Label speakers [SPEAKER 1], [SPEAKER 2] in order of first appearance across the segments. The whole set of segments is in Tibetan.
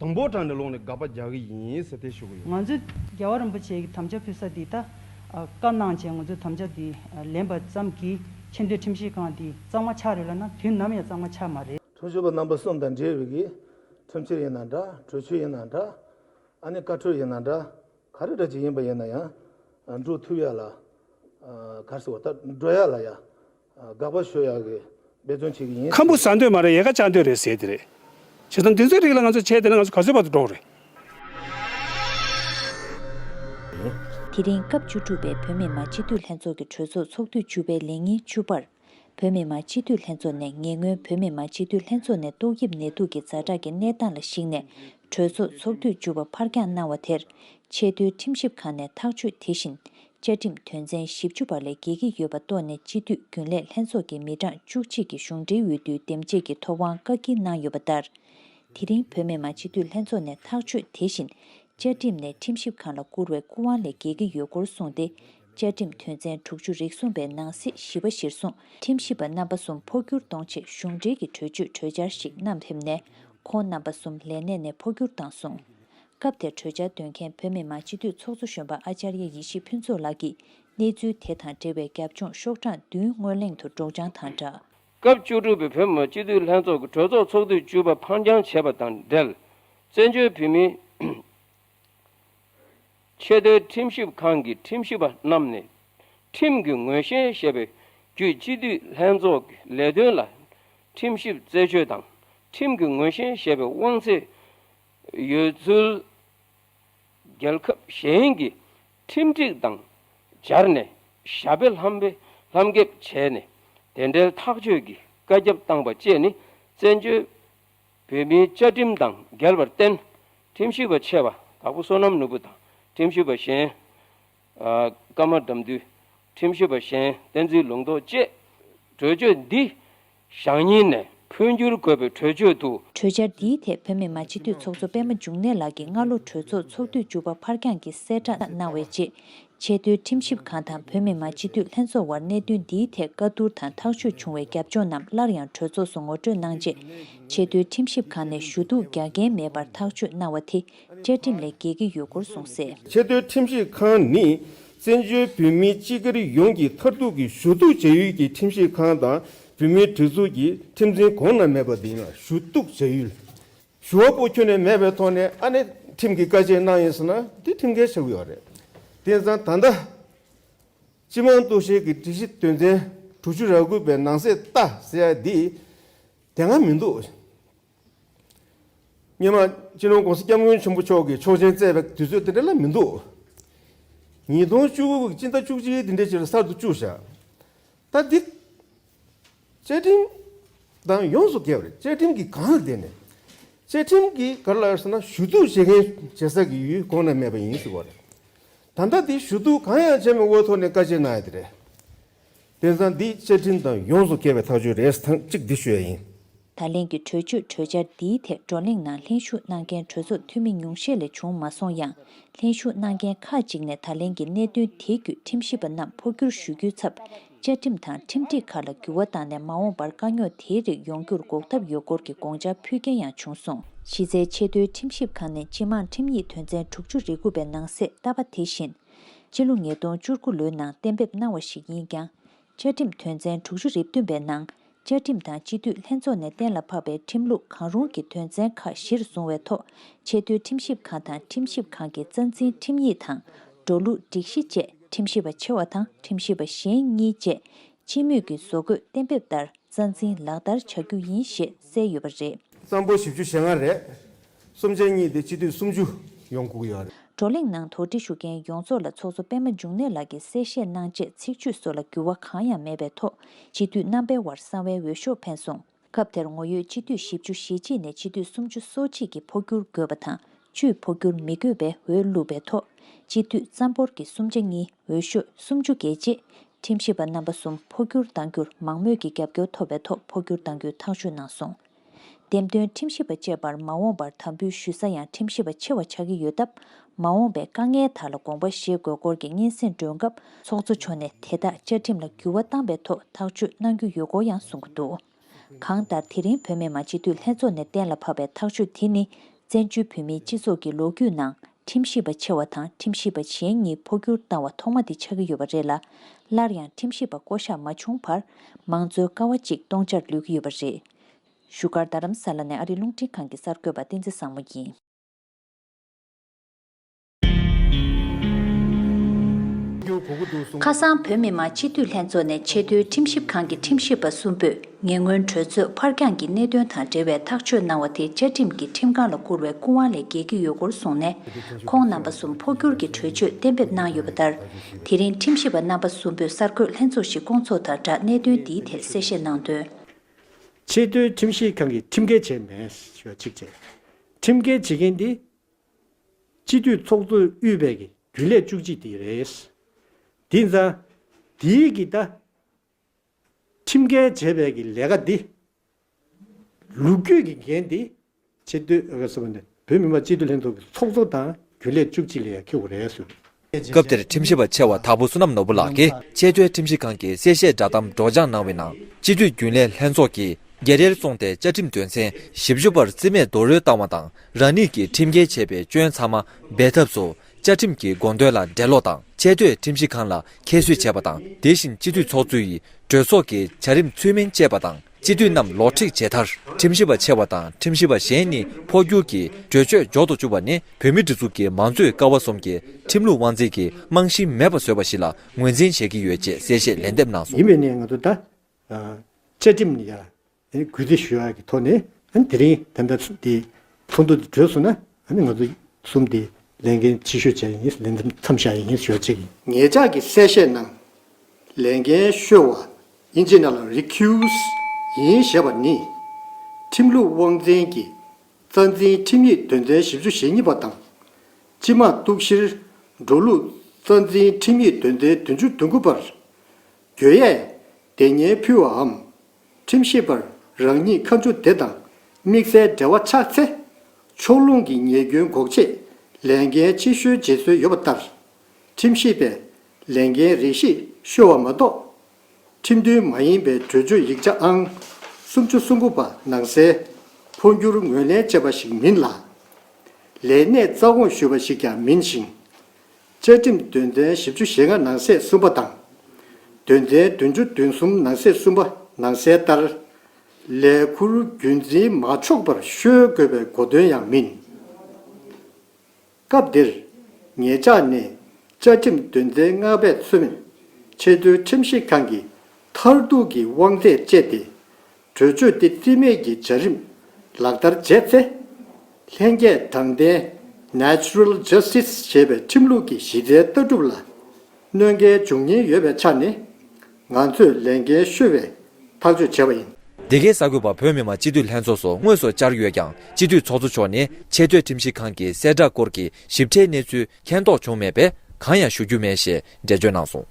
[SPEAKER 1] དང་པོ་དྲངས་ནས་ལོག་ནས་དགག་པ་རྒྱག་གི་ཡིན་ཟེར་ཏེ་ཞུ་གི་ཡོད། ང་ཚོས་རྒྱལ་བ་རིན་
[SPEAKER 2] པོ་ཆེ་ཡི་དམ་བཅའ་ཕུལ་ས་འདི་ད་བཀའ་གནང་རྗེས་ང་ཚོས་དམ་བཅའ་འདི་ལེན་པ་ཙམ་གྱིས་ཆེ་འདོད་ཁྲིམས་ཞིབ་ཁང་འདི་གཙང་མ་ཆགས་རེད་ལབ་ན་དུས་ནམ་ཡང་གཙང་མ་ཆགས་མ་རེད། ཁྲིམས་ཞིབ་པ་རྣམ་པ་གསུམ་དང་
[SPEAKER 3] འབྲེལ་ཡོད་ཀྱི་ཁྲིམས་ཆེར་ཡིན་ན་འདྲ་གྲོས་ཆོད་ཡིན་ན་འདྲ་ཨ་ནི་བཀའ་ཁྲོལ་ཡིན་ན་འདྲ་ག་རེ་འདྲ་ཅིག་ཡིན་པ་ཡིན་ན་ཡང་འགྲོ་ཐུབ་ཡག་ལ་གར་སོ་བ་ལྟར་འགྲོ་ཡག་ལ་ཡག་དགག་པ་ཞུ་ཡག་གི་འབད་བརྩོན་བྱེད་གི་ཡིན། ཁམ་བུ་ཟ་འདོད་མ་རེད་
[SPEAKER 4] ཡལ་ག་བཅག་འདོད་རེད་ཟེར་དེ་རེད། བྱས་ཙང་འདི་ཚོའི་རིགས་ལ་ང་ཚོ་བྱས་དེ་ན་ང་ཚོ་ག་ཚོད་བར་དུ་འགྲོགས་རེད།
[SPEAKER 5] དེ་རིང་སྐབས་བཅུ་དྲུག་པའི་བོད་མི་མང་སྤྱི་འཐུས་ལྷན་ཚོགས་ཀྱི་གྲོས་ཚོགས་ཚོགས་དུས་བཅུ་པའི་ལས་ཉིན་བཅུ་པར། བོད་མི་མང་སྤྱི་འཐུས་ལྷན་ཚོགས་ནས་ཉེ་སྔོན་བོད་མི་མང་སྤྱི་འཐུས་ལྷན་ཚོགས་ནས་ཏོག་དབྱིབས་ནད་དུག་གི་རྫ་དྲག་གི་གནས་སྟངས་ལ་གཞིགས་ནས་གྲོས་ཚོགས་ཚོགས་དུས་བཅུ་པ་ཕར་འགྱངས་གནང་བ་དེར། ཆེས་མཐོའི་ཁྲིམས་ཞིབ་ཁང་ནས་ཐག་གཅོད་དེ་བཞིན་བཅའ་ཁྲིམས་དོན་ཚན་བཞི་བཅུ་པ་ལས་འགལ་གྱི་ཡོད་པ་རྟོགས་ནས་སྤྱི་འཐུས་རྒྱུན་ལས་ལྷན་ཚོགས་ཀྱི་མི་གྲངས་བཅུ་གཅིག་གིས་གཞུང་འབྲེལ་འོས་བསྡུའི་འདེམས་བྱེད་ཀྱི་ཐོབ་དབང་བཀག་སྐྱིལ་གནང་ཡོད་པ་ལྟར། དེ་རིང་བོད་མི་མང་སྤྱི་འཐུས་ལྷན་ཚོགས་ནས་ཐག་གཅོད་དེ་བཞིན། བཅའ་ཁྲིམས་ནས་ཁྲིམས་ཞིབ་ཁང་ལ་བསྐུར་བའི་སྐུ་དབང་ལས་འགལ་གྱི་ཡོད་སྐོར་གསུངས་ཏེ། བཅའ་ཁྲིམས་དོན་ཚན་དྲུག་ཅུ་རིགས་གསུམ་པའི་ནང་གསེས་བཞི་པ་གཞིར་བཟུང་ཁྲིམས་ཞིབ་པ་རྣམ་པ་གསུམ་འཕོ་འགྱུར་གཏོང་ཆེད་གཞུང་འབྲེལ་གྱི་གྲོས་ཆོད་གྲོས་འཆར་ཞིག་བསྣམས་ཕེབས་ནས་ཁོང་རྣམ་པ་གསུམ་ལས་གནས་ནས་འཕོ་འགྱུར་བཏང་གསུངས། སྐབས་དེར་གྲོས་འཆར་འདོན་མཁན་བོད་མི་མང་སྤྱི་འཐུས་ཚོགས་གཙོ་གཞོན་པ་ཨཅཱརྱ་ཡེ་ཤེས་ཕུན་ཚོགས་ལགས་ཀྱིས་གནས་ཚུལ་དེ་དང་འབྲེལ་བའི་རྒྱབ་ལྗོངས་ཤོག་གྲངས་བདུན་སྔོན་གླེང་དུ་སྒྲོག་སྦྱང་དང་སྦྲགས། སྐབས་བཅུ་དྲུག་པའི་
[SPEAKER 6] བོད་མི་མང་སྤྱི་འཐུས་ལྷན་ཚོགས་ཀྱི་གྲོས་ཚོགས་ཚོགས་དུས་བཅུ་པ་འཕར་འགྱངས་བྱས་པ་དང་འབྲེལ་བཙན་བྱོལ་བོད་མིའི་ཆེས་མཐོའི་ཁྲིམས་ཞིབ་ཁང་གི་ཁྲིམས་ཞིབ་པ་རྣམས་ནས་ཁྲིམས་ཀྱི་ངོས་བཞེས་ཞེས་པའི་བརྒྱུད་སྤྱི་འཐུས་ལྷན་ཚོགས་ཀྱི་ལས་དོན་ལ་ཁྲིམས་ཞིབ་རྩད་ཆོད་དང་ཁྲིམས་ཀྱི་ངོས་བཞེས་ཞེས་པའི་དབང་ཚད་ཡོད་ཚུལ། རྒྱལ་ཁབ་གཞན་གྱི་ཁྲིམས་སྒྲིག་དང་སྦྱར་ནས་ཞྭ་དཔེ་ལྷམ་དཔེ་ལྷམ་འགེབས་བྱས་ནས་དེ་འབྲེལ་ཐག་གཅོད་ཀྱི་བཀའ་ཁྱབ་བཏང་པ་བཅས་ནི་བཙན་བྱོལ་བོད་མིའི་བཅའ་ཁྲིམས་དང་འགལ་བར་བརྟེན་ཁྲིམས་ཞིབ་པ་ཆེ་བ་དྭགས་པོ་བསོད་ནམས་ནོར་བུ་དང་ཁྲིམས་ཞིབ་པ་གཞན། བཀའ་མ་དགྲམ་དུས་ཁྲིམས་ཞིབ་པ་གཞན་བསྟན་འཛིན་ལུང་རྟོགས་བཅས། གྲོས་ཆོད་འདི་ཞག་གཉིས་ནས་འཕོ་འགྱུར་དགོས་པའི་གྲོས་ཆོད་དུ། གྲོས་འཆར་འདིའི་ཐད་
[SPEAKER 5] བོད་མི་མང་སྤྱི་འཐུས་ཚོགས་གཙོ་པད་མ་འབྱུང་གནས་ལགས་ཀྱིས་སྔ་ལོ་གྲོས་ཚོགས་ཚོགས་དུས་བཅུ་པ་འཕར་འགྱངས་ཀྱིས་གསལ་བསྒྲགས་གནང་བའི་རྗེས། ཆེས་མཐོའི་ཁྲིམས་ཞིབ་ཁང་དང་བོད་མི་མང་སྤྱི་འཐུས་ལྷན་ཚོགས་དབར་གནད་དོན་འདིའི་ཐད་བཀའ་བསྡུར་དང་ཐག་གཅོད་བྱུང་བའི་རྒྱབ་ལྗོངས་རྣམས་སླར་ཡང་གྲོས་ཚོགས་སུ་ངོ་སྤྲོད་གནང་རྗེས། ཆེས་མཐོའི་ཁྲིམས་ཞིབ་ཁང་ནས་ཞུ་གཏུག་རྒྱག་འགན་མེད་པར་ཐག་གཅོད་གནང་བ་དེ། བཅའ་ཁྲིམས་ལས་འགལ་གྱི་ཡོད་སྐོར་གསུངས་སྲིད། ཆེས་མཐོའི་ཁྲིམས་ཞིབ་
[SPEAKER 1] ཁང་ནི་བཙན་བྱོལ་བོད་མི་སྤྱི་སྒེར་ཡོངས་ཀྱི་མཐར་ཐུག་གི་ཞུ་གཏུག་བྱ་ཡུལ་གྱི་ཁྲིམས་ཞིབ་ཁང་དང་བོད་མིའི་སྒྲིག་འཛུགས་ཀྱི་ཁྲིམས་འཛིན་གོང་ན་མེད་པ་དེ་ཡིན་ལ་ཞུ་གཏུག་བྱ་ཡུལ། ཞུ་བ་པོ་ཁྱོན་ནས་མེད་པའི་ཐོག་ནས་ཨ་ནེ་ཁྲིམས་ཀྱི་བཀའ་ཆད་གནང་ཡོད་ཟེར་ན་དེ་ཁྲིམས་འགལ་ཆགས་ཡོད་པ་རེད། དེ་མཚམས་ད་ལྟ། སྤྱི་དམངས་གཏུག་བཤེར་གྱི་སྒྲིག་གཞི་དོན་ཚན་དྲུག་ཅུ་ར་དགུ་པའི་ནང་གསལ་བཏགས་ཟེར་ཡ་དེ་དེ་སྔ་མི་འདུག། སྙེ་མ། སྤྱི་ནོར ྋགོང་ས ྋསྐྱབས་མགོན་ཆེན་པོ་མཆོག་གིས་ཆོག་མཆན་བསྩལ་བའི་དུས་ཚོད་དེ་འདྲ་ལ་མི་འདུག། ཉིས་སྟོང་བཅུ་དགུ་དགུ་སྤྱི་ཟླ་བཅུ་གཅིག་འདི་འདྲའི་ཆེད་ལ་གསར་དུ་བཅུག་བཞག་ད་འདི། བཅའ་ཁྲིམས་དང་ཡོངས་སུ་འགལ་བ་རེད་བཅའ་ཁྲིམས་ཀྱི་གང་ལ་བདེན་ནས་བཅའ་ཁྲིམས་ཀྱི་གར་ལ་ཟེར་ན་ཞུ་གཏུག་བྱེད་མཁན་བྱེད་ས་ཀྱི་ཡུལ་གོང་ན་མེད་པ་ཡིན་ཞུ་བ་རེད་ད་ལྟ་འདི་ཞུ་གཏུག་གང་ཡང་བྱས་མེད་འོས་ཐོག་ནས་བཀའ་ཆད་གནང་ཡ་དེ་རེད་དེ་ཚང་འདི་བཅའ་ཁྲིམས་དང་ཡོངས་སུ་འགལ་བའི་ཐག་གཅོད་རེད་ཐང་གཅིག་འདི་ཞུ་ཡ་ཡིན། ད་ལན་གྱི་གྲོས་
[SPEAKER 5] ཆོད་གྲོས་འཆར་འདིའི་ཐད་བགྲོ་གླེང་ནང་ལྷན་ཞུགས་གནང་མཁན་གྲོས་ཚོགས་འཐུས་མི་ཉུང་ཤས་ལས་བྱུང་མ་སོང་ཡང། ལྷན་ཞུགས་གནང་མཁན་ཁག་ཅིག་ནས་ད་ལན་གྱི་གནད་དོན་དེ་བརྒྱུད་ཁྲིམས་ཞིབ་པ་རྣམས་འཕོ་འགྱུར་ཞུ་རྒྱུའི་ཚབ། བཅའ་ཁྲིམས་དང་ཁྲིམས་སྒྲིག་ཁག་ལ་འགྱུར་བ་བཏང་ནས་མ་འོངས་པར་དཀའ་རྙོག་དེའི་རིགས་ཡོང་རྒྱུར་འགོག་ཐབས་ཡོད་སྐོར་གྱི་དགོངས་འཆར་ཕུལ་མཁན་ཡང་བྱུང་སོང། གཞི་རྩའི་ཆེས་མཐོའི་ཁྲིམས་ཞིབ་ཁང་ནས་སྤྱི་དམངས་ཁྲིམས་ཡིག་དོན་ཚན་དྲུག་ཅུ་རེ་དགུ་པའི་ནང་གསེས་བཏབ་པ་དེ་བཞིན། སྤྱི་ལོ་ཉིས་སྟོང་བཅུ་དགུ་ལོའི་ནང་གཏན་འབེབས་གནང་བ་ཞིག་ཡིན་ཀྱང། བཅའ་ཁྲིམས་དོན་ཚན་དྲུག་ཅུ་རེ་བདུན་པའི་ནང་བཅའ་ཁྲིམས་དང་སྤྱི་འཐུས་ལྷན་ཚོགས་ནས་གཏན་ལ་ཕབ་པའི་ཁྲིམས་ལུགས་གང་རུང་གི་དོན་ཚན་ཁག་གཞིར་བཟུང་བའི་ཐོག་ཆེས་མཐོའི་ཁྲིམས་ཞིབ་ཁང་དང་ཁྲིམས་ཞིབ་ཁང་གི་རྩ་འཛིན་ཁྲིམས་ཡིག་དང་འགྲོ་ལུགས་སྒྲིག་གཞི་བཅས་ཁྲིམས་ཞིབ་པ་ཆེ་བ་དང་ཁྲིམས་ཞིབ་པ་གཞན་གཉིས་བཅས་སྤྱི་མོས་ཀྱི་བཟོ་འགོད་གཏན་འབེབས་ལྟར་རྩ་འཛིན་ལག་
[SPEAKER 1] བསྟར་བྱ་
[SPEAKER 5] རྒྱུ་ཡིན་ཞེས་གསལ་
[SPEAKER 1] ཡོད་པ་རེད།
[SPEAKER 5] གཙང་པོ་བཞི་བཅུ་ཞེ་
[SPEAKER 1] ལྔ་རེད།
[SPEAKER 5] གསུམ་
[SPEAKER 1] ཆ་གཉིས་ཏེ་སྤྱི་འཐུས་སུམ་ཅུ་ཡོང་སྒུག་ཡོད་རེད། བགྲོ་གླེང་ནང་དོགས་
[SPEAKER 5] འདྲི་ཞུ་མཁན་ཡོངས་རྫོགས་ལ་ཚོགས་གཙོ་པད་མ་འབྱུང་གནས་ལགས་ཀྱིས་གསལ་བཤད་གནང་རྗེས་ཚིག་བརྗོད་སོགས་ལ་འགྱུར་བ་གང་ཡང་མེད་པའི་ཐོག་སྤྱི་འཐུས་རྣམ་པའི་དབར་གསང་བའི་འོས་ཤོག་འཕེན་སོང། སྐབས་དེར་ངོ་ཡོད་སྤྱི་འཐུས་བཞི་བཅུ་ཞེ་གཅིག་ནས་སྤྱི་འཐུས་སུམ་ཅུ་སོ་གཅིག་གིས་འཕོ་འགྱུར་དགོས་པ་དང་བཅུས་འཕོ་འགྱུར་མི་དགོས་པའི་འོས་བླུགས་པའི་ཐོག་སྤྱི་འཐུས་རྩ་འབོར་གྱི་གསུམ་ཆ་གཉིས་འོས་ཤོས་སུམ་ཅུ་བརྒལ་རྗེས། ཁྲིམས་ཞིབ་པ་རྣམ་པ་གསུམ་འཕོ་འགྱུར་གཏང་རྒྱུར་མང་མོས་ཀྱི་རྒྱབ་སྐྱོར་ཐོབ་པའི་ཐོག་འཕོ་འགྱུར་གཏང་རྒྱུའི་ཐག་གཅོད་གནང་སོང། འདེམས་ཐོན་ཁྲིམས་ཞིབ་པ་བཅས་པར་མ་འོངས་པར་དམ་འབུལ་ཞུ་ས་ཡང་ཁྲིམས་ཞིབ་པ་ཆེ་བ་ཆགས་ཀྱི་ཡོད་སྟབས་མ་འོངས་པའི་དཀའ་ངལ་དག་ལ་དགོངས་པ་བཞེས་དགོས་སྐོར་གྱི་སྙན་སེང་སྒྲོན་སྐབས་ཚོགས་གཙོ་མཆོག་ནས་དེ་དག་བཅའ་ཁྲིམས་ལ་འགྱུར་བ་བཏང་པའི་ཐོག་ཐག་གཅོད་གནང་རྒྱུ་ཡོད་སྐོར་ཡང་གསུངས་ཀྱི་འདུག་གང་ལྟར་དེ་རིང་བོད་མི་མང་སྤྱི་འཐུས་ལྷན་ཚོགས་ནས་གཏན་ལ་ཕབ་པའི་ཐག་གཅོད་དེ་ནི་བཙན་བྱོལ་བོད་མིའི་སྤྱི་ཚོགས་ཀྱི་ལོ་རྒྱུས་ནང་ཁྲིམས་ཞིབ་པ་ཆེ་བ་དང་ཁྲིམས་ཞིབ་པ་གཞན་གཉིས་འཕོ་འགྱུར་བཏང་བ་ཐོག་མ་དེ་ཆགས་ཀྱི་ཡོད་པ་རེད་ལ། སླར་ཡང་ཁྲིམས་ཞིབ་པ་བསྐོ་གཞག་མ་བྱུང་བར། མང་གཙོའི་ཀ་བ་ཅིག་སྟོང་ཆར་ལུས་ཀྱི་ཡོད་པ་རེད། བཞུགས་སྒར་རྡ་རམ་ས་ལ་ནས་ཨ་རིའི་རླུང་འཕྲིན་ཁང་གི་གསར་འགོད་པ་བསྟན་འཛིན་བཟང་མོ་ཡིན། ཁ་སང་བོད་མི་མང་སྤྱི་འཐུས་ལྷན་ཚོགས་ནས་ཆེས་མཐོའི་ཁྲིམས་ཞིབ་ཁང་གི་ཁྲིམས་ཞིབ་པ་གསུམ་པོས། ཉེ་སྔོན་གྲོས་ཚོགས་ཕར་འགྱངས་ཀྱི་གནད་དོན་དང་འབྲེལ་བའི་ཐག་གཅོད་གནང་བ་དེ་བཅའ་ཁྲིམས་ཀྱིས་ཁྲིམས་ཁང་ལ་བསྐུར་བའི་སྐུ་དབང་ལས་བརྒལ་གྱི་ཡོད་སྐོར་གསུངས་ནས། ཁོང་རྣམ་པ་གསུམ་འཕོ་འགྱུར་གྱི་གྲོས་ཆོད་གཏན་འབེབས་གནང་ཡོད་པ་ལྟར། དེ་རིང་ཁྲིམས་ཞིབ་པ་རྣམ་པ་གསུམ་པོས་གསར་འགོད་ལྷན་ཚོགས་ཤིག་བསྐོང་ཚོགས་དང་སྦྲགས་གནད་དོན་འདིའི་ཐད་གསལ་བཤད་གནང་དོན། ཆེས་
[SPEAKER 7] མཐོའི་ཁྲིམས་ཞིབ་ཁང་གིས་ཁྲིམས་འགལ་བྱས་མེད་ཞེས་གཅིག་བྱས། ཁྲིམས་འགལ་བྱེད་མཁན་དེ། སྤྱི་འཐུས་ཚོགས་གཙོ་དབུས་པའི་གི་རྒྱུན་ལས་བཅུ་གཅིག་དེ་རེད། དེ་མཚམས། དེའི་གི་ད། ཁྲིམས་འགལ་བྱས་པའི་གི་ལས་ཀ་འདི། ལུགས་རྒྱུས་ཀྱི་འགན་འདི། སྤྱི་འཐུས། བོད་མི་མང་སྤྱི་འཐུས་ལྷན་ཚོགས་ཀྱི་ཚོགས་གཙོ་དང་རྒྱུན་ལས་བཅུ་གཅིག་ལས་ཡ་ཁི་ཝུ་རེ་སུ། སྐབས་དེར་
[SPEAKER 8] ཁྲིམས་ཞིབ་པ་ཆེ་བ་དྭགས་པོ་བསོད་ནམས་ནོར་བུ་ལགས་ཀྱིས་ཆེས་མཐོའི་ཁྲིམས་ཞིབ་ཁང་གི་གསལ་བཤད་བསྒྲགས་གཏམ་སྒྲོགས་སྦྱང་གནང་བའི་ནང་སྤྱི་འཐུས་རྒྱུན་ལས་ལྷན་ཚོགས་ཀྱིས་རྒྱལ་རལ་བཙོང་སྟེ་བཅའ་ཁྲིམས་དོན་ཚན་བཞི་བཅུ་པར་རྩིས་མེད་རྡོག་རོལ་བཏང་བ་དང་རང་ཉིད་ཀྱིས་ཁྲིམས་འགལ་བྱས་པའི་སྐྱོན་ཚང་མ་སྦས་ཐབས་སུ་བཅའ་ཁྲིམས་ཀྱི་དགོངས་དོན་ལ་འགྲེལ་ཀློག་དང་ཆད་གཏོད་ཁྲིམས་གཞི་གང་ལ་ཁྱད་གསོད་བྱས་པ་དང་དེ་བཞིན་སྤྱི་འཐུས་ཚོགས་གཙོ་ཡིས་གྲོས་ཚོགས་ཀྱི་བྱ་རིམ་ཚུལ་མིན་སྤྱད་པ་དང་སྤྱི་འཐུས་རྣམས་ལོག་འཁྲིད་བྱས་མཐར་ཁྲིམས་ཞིབ་པ་ཆེ་བ་དང་ཁྲིམས་ཞིབ་པ་གཞན་གཉིས་འཕོ་འགྱུར་གྱིས་གྲོས་ཆོད་འཇོག་ཏུ་བཅུག་པ་ནི་བོད་མི་སྒྲིག་འཛུགས་ཀྱི་མང་གཙོའི་ཀ་བ་གསུམ་གྱི་ཁྲིམས་ལུགས་དབང་འཛིན་གྱི་རྨང་གཞི་མེད་པ་བཟོས་པ་ཞིག་ལ་ངོས་འཛིན་བྱེད་ཀྱི་ཡོད་ཅེས་གསལ་བཤད་ལན་འདེབས་གནང་ཡིན་སོང། པའི་གནས་ང་ཚོ་ད།
[SPEAKER 7] བཅའ་ཁྲིམས་ནི་ཡ། གུས་འདུད་ཞུ་བ་ཀྱི་ཐོག་ནས་དེ་རིང་དེ་འདྲ་དེ་ཚོགས་འདུ་དེ་གྲོལ་སོང་ན་ང་ཚོ་གསུམ་དེ་ལས་འགན་ཆེ་ཤོས་བྱས་ཡིན་ལས་འགན་མཚམས་བཞག་ཡིན་ཞུ་བ་གཅིག་ཡིན། ངེད་ཅག་གི་གསལ་བཤད་ནང་ལས་འགན་ཤོས་བ་ཨིན་ཇི་ནཱ་ལ Recuse ཡིན་ཞེས་པ་ནི་ཁྲིམས་ལུགས་དབང་འཛིན་གྱི་རྩ་འཛིན་ཁྲིམས་ཡིག་དོན་ཚན་བཞི་བཅུ་ཞེ་གཉིས་པ་དང་སྤྱི་དམངས་གཏུག་བཤེར་འགྲོ་ལུགས་རྩ་འཛིན་ཁྲིམས་ཡིག་དོན་ཚན་བདུན་ཅུ་དོན་དགུ་པར། གྱོད་ཡས་དེ་སྙན་ཕུལ་བའམ། ཁྲིམས་ཞིབ་པར་རང་ཉིད་ཁ་མཆུ་དེ་དང་དམིགས་བསལ་འབྲེལ་བ་ཆགས་ཚེ། ཕྱོགས་ལྷུང་གི་ཉེས་སྐྱོན་འགོག་ཆེད་ལས་འགན་ཆེ་ཤོས་བརྗེད་སྲོལ་ཡོད་པ་ལྟར། ཁྲིམས་ཞིབ་པས་ལས་འགན་རེ་ཞིག་བཤོལ་བ་མ་གཏོགས། ཁྲིམས་མཐུན་མ་ཡིན་པའི་གྲོས་ཆོད་ཡིག་ཆ་ཨང་སུམ་ཅུ་སོ་དགུ་པ་ནང་གསལ། འཕོ་འགྱུར་ངོས་ལེན་བྱས་པ་ཞིག་མིན་ལ། ལས་གནས་རྩ་དགོངས་ཞུས་པ་ཞིག་ཀྱང་མིན་ཞིང། བཅའ་ཁྲིམས་དོན་ཚན་བཞི་བཅུ་ཞེ་ལྔ་ནང་གསེས་གསུམ་པ་དང། དོན་ཚན་བདུན་ཅུ་བདུན་གསུམ་ནང་གསེས་གསུམ་པ་ནང་གསལ་ལྟར། ལས་འཁུར་རྒྱུན་འཛིན་མ་ཆོག་པར་ཤོལ་དགོས་པའི་གོ་དོན་ཡང་མིན། སྐབས་འདིར། ངེད་ཅག་ནི་བཅའ་ཁྲིམས་དོན་ཚན་ལྔ་པས་མཚོན། ཆེས་མཐོའི་ཁྲིམས་ཞིབ་ཁང་གིས་མཐར་གཏུག་གི་དབང་ཚད་སྤྱད་དེ། གྲོས་ཆོད་དེ་རྩིས་མེད་ཀྱི་བྱ་རིམ་ལག་བསྟར་བྱས་ཚེ། ལྷན་སྐྱེས་དྲང་བདེན། Natural Justice། ཞེས་པའི་ཁྲིམས་ལུགས་ཀྱི་གཞི་རྩའི་ལྟ་གྲུབ་ལ་གནོད་འགལ་འབྱུང་ཉེན་ཡོད་པའི་ཆ་ནས། ང་ཚོས་ལས་འགན་ཤོད་པའི་ཐག་གཅོད་བྱས་པ་ཡིན། འདི་གའི་གསར་འགོད་པར་བོད་
[SPEAKER 8] མི་མང་སྤྱི་འཐུས་ལྷན་ཚོགས་སུ་དངོས་སུ་བཅར་ཡོད་ཀྱང་སྤྱི་འཐུས་ཚོགས་གཙོ་མཆོག་ནས་ཆེས་མཐོའི་ཁྲིམས་ཞིབ་ཁང་གི་གསལ་བསྒྲགས་སྐོར་གྱི་ཞིབ་ཕྲའི་གནས་ཚུལ་མཁྱེན་རྟོགས་བྱུང་མེད་པས་གང་ཡང་ཞུ་རྒྱུ་མེད་ཞེས་འགྲེལ་བརྗོད་གནང་སོང།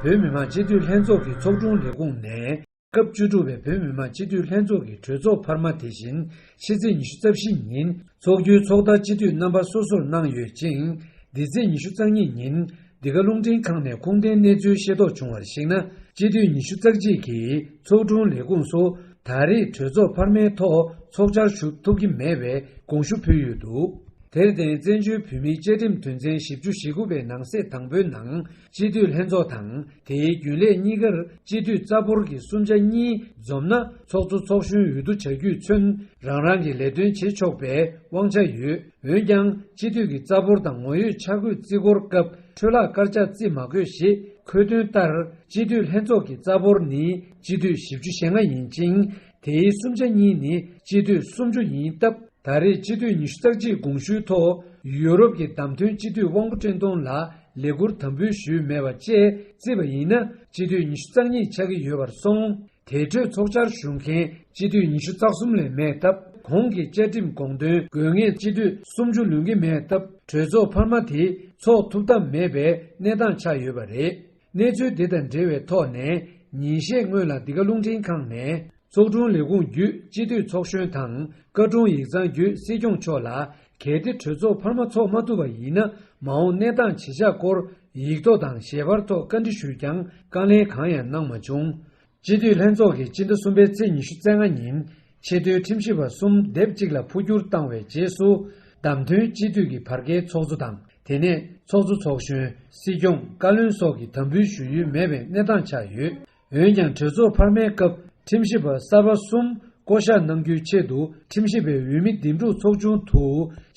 [SPEAKER 9] བོད་མི་མང་སྤྱི་འཐུས་ལྷན་ཚོགས་ཀྱི་ཚོགས་དྲུང་ལས་ཁུངས་ནས་སྐབས་བཅུ་དྲུག་པའི་བོད་མི་མང་སྤྱི་འཐུས་ལྷན་ཚོགས་ཀྱི་གྲོས་ཚོགས་འཕར་མ་དེ་བཞིན་ཕྱི་ཚེས་ཉི་ཤུ་རྩ་བཞི་ཉིན་འཚོགས་རྒྱུའི་ཚོགས་བརྡ་སྤྱི་འཐུས་རྣམ་པ་སོ་སོར་གནང་ཡོད་ཅིང། འདི་ཚེས་ཉི་ཤུ་རྩ་གཉིས་ཉིན་འདི་ག་རླུང་འཕྲིན་ཁང་ནས་ཁུངས་ལྡན་གནས་ཚུལ་ཤེས་རྟོགས་བྱུང་བར་གཞིགས་ན། སྤྱི་འཐུས་ཉི་ཤུ་རྩ་གཅིག་གིས་ཚོགས་དྲུང་ལས་ཁུངས་སུ་ད་རེས་གྲོས་ཚོགས་འཕར་མའི་ཐོག་ཚོགས་བཅར་ཞུ་ཐུབ་ཀྱི་མེད་པའི་དགོངས་ཞུ་ཕུལ་ཡོད་འདུག་དེར་བརྟེན་བཙན་བྱོལ་བོད་མིའི་བཅའ་ཁྲིམས་དོན་ཚན་བཞི་བཅུ་ཞེ་དགུ་པའི་ནང་གསེས་དང་པོའི་ནང་སྤྱི་འཐུས་ལྷན་ཚོགས་དང་དེའི་རྒྱུན་ལས་གཉིས་ཀར་སྤྱི་འཐུས་རྩ་འབོར་གྱི་གསུམ་ཆ་གཉིས་འཛོམས་ན་ཚོགས་གཙོ་ཚོགས་གཞོན་འོས་བསྡུ་བྱ་རྒྱུས་མཚོན་རང་རང་གི་ལས་དོན་བྱེད་ཆོག་པའི་དབང་ཆ་ཡོད། འོན་ཀྱང་སྤྱི་འཐུས་ཀྱི་རྩ་འབོར་དང་ངོ་ཡོད་འཆར་འགོད་རྩིས་འཁོར་སྐབས་འཕྲོས་ལག་བཀར་ལྕག་རྩིས་མ་དགོས་ཞེས་འཁོད་དོན་ལྟར་སྤྱི་འཐུས་ལྷན་ཚོགས་ཀྱི་རྩ་འབོར་ནི་སྤྱི་འཐུས་བཞི་བཅུ་ཞེ་ལྔ་ཡིན་ཅིང་དེའི་གསུམ་ཆ་གཉིས་ནི་སྤྱི་འཐུས་སུམ་ཅུ་ཡིན་སྟབས་ད་རེས་སྤྱི་འཐུས་ཉི་ཤུ་རྩ་གཅིག་དགོངས་ཞུའི་ཐོག་ཡུ་རོབ་ཀྱི་བདམས་ཐོན་སྤྱི་འཐུས་དབང་པོ་བཀྲས་མཐོང་ལ་ལས་བསྐུར་དམ་འབུལ་ཞུས་མེད་པ་བཅས་བརྩིས་པ་ཡིན་ན་སྤྱི་འཐུས་ཉི་ཤུ་རྩ་གཉིས་ཆགས་ཀྱི་ཡོད་པར་སོང། དེ་གྲོས་ཚོགས་བཅར་ཞུ་མཁན་སྤྱི་འཐུས་ཉི་ཤུ་རྩ་གསུམ་ལས་མེད་སྟབས་གོང་གི་བཅའ་ཁྲིམས་དགོངས་དོན་དགོས་ངེས་སྤྱི་འཐུས་སུམ་ཅུ་ལོན་གྱི་མེད་སྟབས་གྲོས་ཚོགས་འཕར་མ་དེ་ཚོགས་ཐུབ་ཐབས་མེད་པའི་གནས་སྟངས་ཆགས་ཡོད་པ་རེད། གནས་ཚུལ་དེ་དང་འབྲེལ་བའི་ཐོག་ནས་ཉིན་ཤས་སྔོན་ལ་འདི་ག་རླུང་འཕྲིན་ཁང་ནས། ཚོགས་དྲུང་ལས་ཁུངས་བརྒྱུད་སྤྱི་འཐུས་ཚོགས་གཞོན་དང་བཀའ་དྲུང་ཡིག་ཚང་བརྒྱུད་སྲིད་སྐྱོང་མཆོག་ལ་གལ་ཏེ་གྲོས་ཚོགས་འཕར་མ་ཚོགས་མ་ཐུབ་པ་ཡིན་ན་མ་འོངས་གནས་སྟངས་ཇི་ཆགས་སྐོར་ཡིག་ཐོག་དང་ཞལ་པར་ཐོག་བཀའ་འདྲི་ཞུས་ཀྱང་བཀའ་ལན་གང་ཡང་གནང་མ་བྱུང། སྤྱི་འཐུས་ལྷན་ཚོགས་ཀྱིས་སྤྱི་ཟླ་གསུམ་པའི་ཚེས་ཉི་ཤུ་རྩ་ལྔ་ཉིན་ཆེས་མཐོའི་ཁྲིམས་ཞིབ་པ་གསུམ་སྡེབ་གཅིག་ལ་འཕོ་འགྱུར་བཏང་བའི་རྗེས་སུ། བདམས་ཐོན་སྤྱི་འཐུས་ཀྱི་བར་བརྒལ་ཚོགས་གཙོ་དང་དེ་ནས་ཚོགས་གཙོ་ཚོགས་གཞོན་སྲིད་སྐྱོང་བཀའ་བློན་སོགས་ཀྱི་དམ་འབུལ་ཞུ་ཡུལ་མེད་པའི་གནས་སྟངས་ཆགས་ཡོད། འོན་ཀྱང་གྲོས་ཚོགས་འཕར་མའི་སྐབས་ཁྲིམས་ཞིབ་པ་གསར་པ་གསུམ་བསྐོ་གཞག་གནང་རྒྱུའི་ཆེད་དུ་ཁྲིམས་ཞིབ་པའི་འོས་མི་འདེམས་སྒྲུག་ཚོགས་ཆུང་དུ་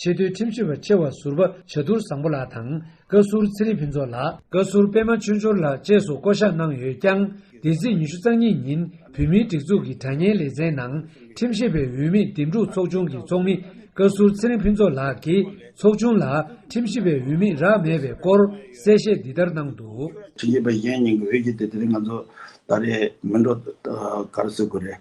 [SPEAKER 9] ཆེས་མཐོའི་ཁྲིམས་ཞིབ་པ་ཆེ་བ་ཟུར་པ་བྱ་དུར་བཟང་པོ་ལགས་དང། བཀའ་ཟུར་ཚེ་རིང་ཕུན་ཚོགས་ལགས། བཀའ་ཟུར་པད་མ་ཆོས་འབྱོར་ལགས་བཅས་སུ་བསྐོ་བཞག་གནང་ཡོད་ཀྱང་འདས་ཚེས་ཉི་ཤུ་རྩ་གཉིས་ཉིན་བོད་མིའི་སྒྲིག་འཛུགས་ཀྱི་དྲ་བརྙན་ལེ་ཚན་ནང་ཁྲིམས་ཞིབ་པའི་འོས་མི་འདེམས་སྒྲུག་ཚོགས་ཆུང་གི་ཚོགས་མི་བཀའ་ཟུར་ཚེ་རིང་ཕུན་ཚོགས་ལགས་ཀྱིས་ཚོགས་ཆུང་ལ་ཁྲིམས་ཞིབ་པའི་འོས་མི་རག་མེད་པའི་སྐོར་གསལ་བཤད་འདི་ལྟར་གནང་འདུག། ཁྲིམས་ཞིབ་པ་གཞན་གཉིས་
[SPEAKER 10] ཀྱི་འོས་བསྡུ་དེ་དེ་རིང་ང་ཚོ་ད་རེས་མི་འགྲོ་གར་བཟོས་དགོས་རེད།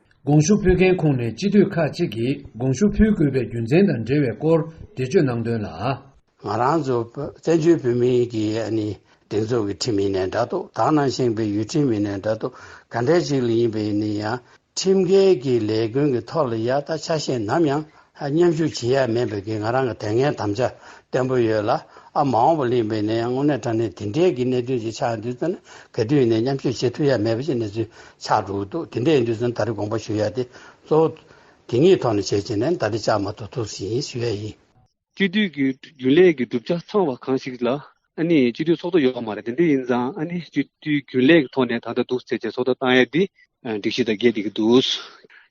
[SPEAKER 10] དགོངས་ཞུ་
[SPEAKER 9] ཕུལ་མཁན་ཁོངས་ནས་སྤྱི་འཐུས་ཁག་གཅིག་གིས་དགོངས་ཞུ་ཕུལ་དགོས་པའི་རྒྱུ་མཚན་དང་འབྲེལ་བའི་སྐོར་འགྲེལ་བརྗོད་གནང་དོན་ལ། ང་རང་ཚོ་
[SPEAKER 11] བཙན་བྱོལ་བོད་མིའི་གི་སྒྲིག་འཛུགས་ཀྱི་ཁྲིམས་ཡིན་ནའི་འདྲ་ཐོག་དག་ནང་བཞེངས་པའི་ཡུལ་ཁྲིམས་ཡིན་ནའི་འདྲ་ཐོག་ག་འདྲ་ཞིག་ལ་ཡིན་པའི་ནི་ཡང་ཁྲིམས་འགལ་གྱི་ལས་ཀུན་གྱི་ཐོག་ལ་ཡ་ད་ཆ་ཤས་ནམ་ཡང་མཉམ་ཞུགས་བྱེད་ཡ་མེད་པའི་ང་རང་གི་དེ་སྔའི་དམ་བཅའ་བརྟན་པོ་ཡོད་ལ། ཨ་མ་འོངས་པ་གླེང་བའི་ནས་དངོས་གནས་དྲ་གནས་དེ་འདྲའི་གི་གནད་དོན་ཅིག་ཆགས་འདུག་ཚེ་ན་གལ་དུས་ནས་མཉམ་ཞུགས་བྱེད་ཐུབ་ཡ་མེད་པ་ཞིག་གནས་ཚུལ་ཆགས་འགྲོ་འདུག་དེ་འདྲའི་འདུག་ཚེ་ན་ད་རེ་དགོངས་པ་ཞུ་ཡ་དེ་གཙོ་བོ། དེ་གཉིས་ཐོག་ནས་བྱས་བྱས་ནས་ད་རེ་ཅག་མ་ཐུག་ཐུག་ཟིན་ཞུ་ཡ་ཡིན། གཅིག་བསྡུས་ཀྱི་
[SPEAKER 12] རྒྱུན་ལས་ཀྱི་གྲུབ་ཆ་ཚང་བ་གང་ཞིག་ལ་ཨ་ནི་སྤྱི་འཐུས་ཚོགས་གཙོ་ཡོད་མ་རེད་དེ་འདི་ཡིན་ཙང་ཨ་ནི་སྤྱི་འཐུས་རྒྱུན་ལས་ཀྱི་ཐོག་ནས་ད་ལྟ་འདུག་ཟེར་བྱས་ཚོགས་གཙོ་བཏང་ཡས་དེ། སྒྲིག་གཞི་དང་འགལ་འདི་གི་འདུག།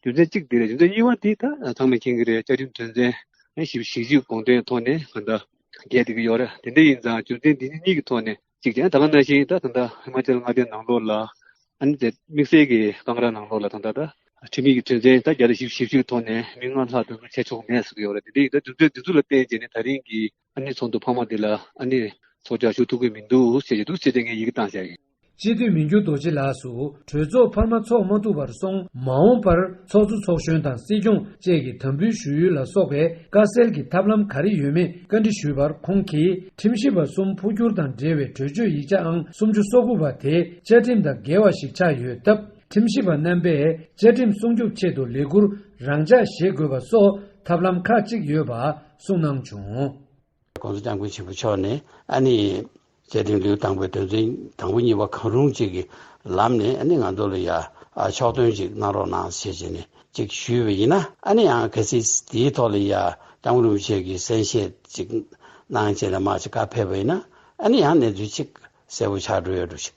[SPEAKER 12] རྒྱུ་མཚན་གཅིག་དེ་རེད་རྒྱུ་མཚན་གཉིས་བ་དེ་ད་ཚང་མས་མཁྱེན་གི་རེད་བཅའ་ཁྲིམས་དོན་ཚན། བཞི་བཞི་བཞི་དགོངས་དོན་ཐོག་ནས་ད་ལྟ་འགལ་འདི་གི་ཡོད་རེད་དེ་འདི་ཡིན་ཙང་རྒྱུ་མཚན་འདི་གཉིས་གི་ཐོག་ནས་གཅིག་དེ་ད་ག་ནང་བཞིན་ད་ད་ལྟ་ཧི་མ་ཅལ་མངའ་སྡེའི་ནང་ལོགས་ལ། ཨ་ནི་དེ་དམིགས་བསལ་གི་སྐང་ར་ནང་ལོགས་ལ་ད་ད་ད། ཁྲིམས་ཡིག་གི་དོན་ཚན་ད་བརྒྱ་དང་བཞི་བཞི་བཞི་གི་ཐོག་ནས་མི་ལྔ་ལྷག་འདུ་འཛོམས་བྱས་ཆོག་གི་མེད་ཟེར་གི་ཡོད་རེད་དེ་འདི་ཡིན་ཙང་རྒྱུ་མཚན་འདི་ཚུར་ལ་བརྟེན་བྱས་ནས་ད་རིང་གི་ཨ་ནེ་ཚོགས་འདུ་འཕར་མ་འདི་ལ་ཨ་ནེ། ཚོགས་བཅར་ཞུགས་ཐུབ་ཀྱི་མི་འདུག་ཞེས་བཤད་ཀྱི་འདུག་ཅི་སྟེ་ངས་ཡི་གེ་བཏང་བཞག་ཡིན། སྤྱི་འཐུས་མི་འགྱུར་
[SPEAKER 9] རྡོ་རྗེ་ལགས་སུ་གྲོས་ཚོགས་འཕར་མ་འཚོགས་མ་ཐུབ་པར་སོང། མ་འོངས་པར་ཚོགས་གཙོ་ཚོགས་གཞོན་དང་སྲིད་སྐྱོང་བཅས་ཀྱི་དམ་འབུལ་ཞུ་ཡུལ་ལ་སོགས་པའི་དཀའ་སེལ་གྱི་ཐབས་ལམ་ག་རེ་ཡོད་མེད་བཀའ་འདྲི་ཞུས་པར་ཁོང་གིས་ཁྲིམས་ཞིབ་པ་གསུམ་འཕོ་འགྱུར་དང་འབྲེལ་བའི་གྲོས་ཆོད་ཡིག་ཆ་ཨང་སུམ་ཅུ་སོ་དགུ་པ་དེ་བཅའ་ཁྲིམས་དང་འགལ་བ་ཞིག་ཆགས་ཡོད་སྟབས་ཁྲིམས་ཞིབ་པ་རྣམ་པས་བཅའ་ཁྲིམས་སྲུང་སྐྱོབ་ཆེད་དུ་ལས་ཁུར་རང་འཇགས་བཞེས་དགོས་པ་སོགས་ཐབས་ལམ་ཁག་གཅིག་ཡོད་པ། གསུངས་གནང་བྱུང། ྋགོང་ས ྋསྐྱབས་མགོན་
[SPEAKER 11] ཆེན་པོ་མཆོག་ནས་ཨ་ནི་བཅའ་ཁྲིམས་ལེའུ་དང་པོའི་དོན་ཚན་དང་པོ་གཉིས་པ་གང་རུང་གཅིག་གི་ལམ་ནས་ཨ་ནི་ང་ཚོ་ལ་ཡ་ཕྱོགས་སྟོན་ཅིག་གནང་རོགས་གནང་ཞེས་བྱས་ནས་ཅིག་ཞུས་པ་ཡིན་ན་ཨ་ནི་ཡང་གལ་སྲིད་དེའི་ཐོག་ལ་ཡ ྋསྐྱབས་མགོན་རིན་པོ་ཆེ་གིས་གསན་བཞེས་ཅིག་གནང་ཅེས་ལ་མ་ཅིག་བཀའ་ཕེབས་པ་ཡིན་ན་ཨ་ནི་ཡང་གནས་ཚུལ་ཅིག་གསལ་པོ་ཆགས་འགྲོ་ཡོད་འགྲོ་ཞིག།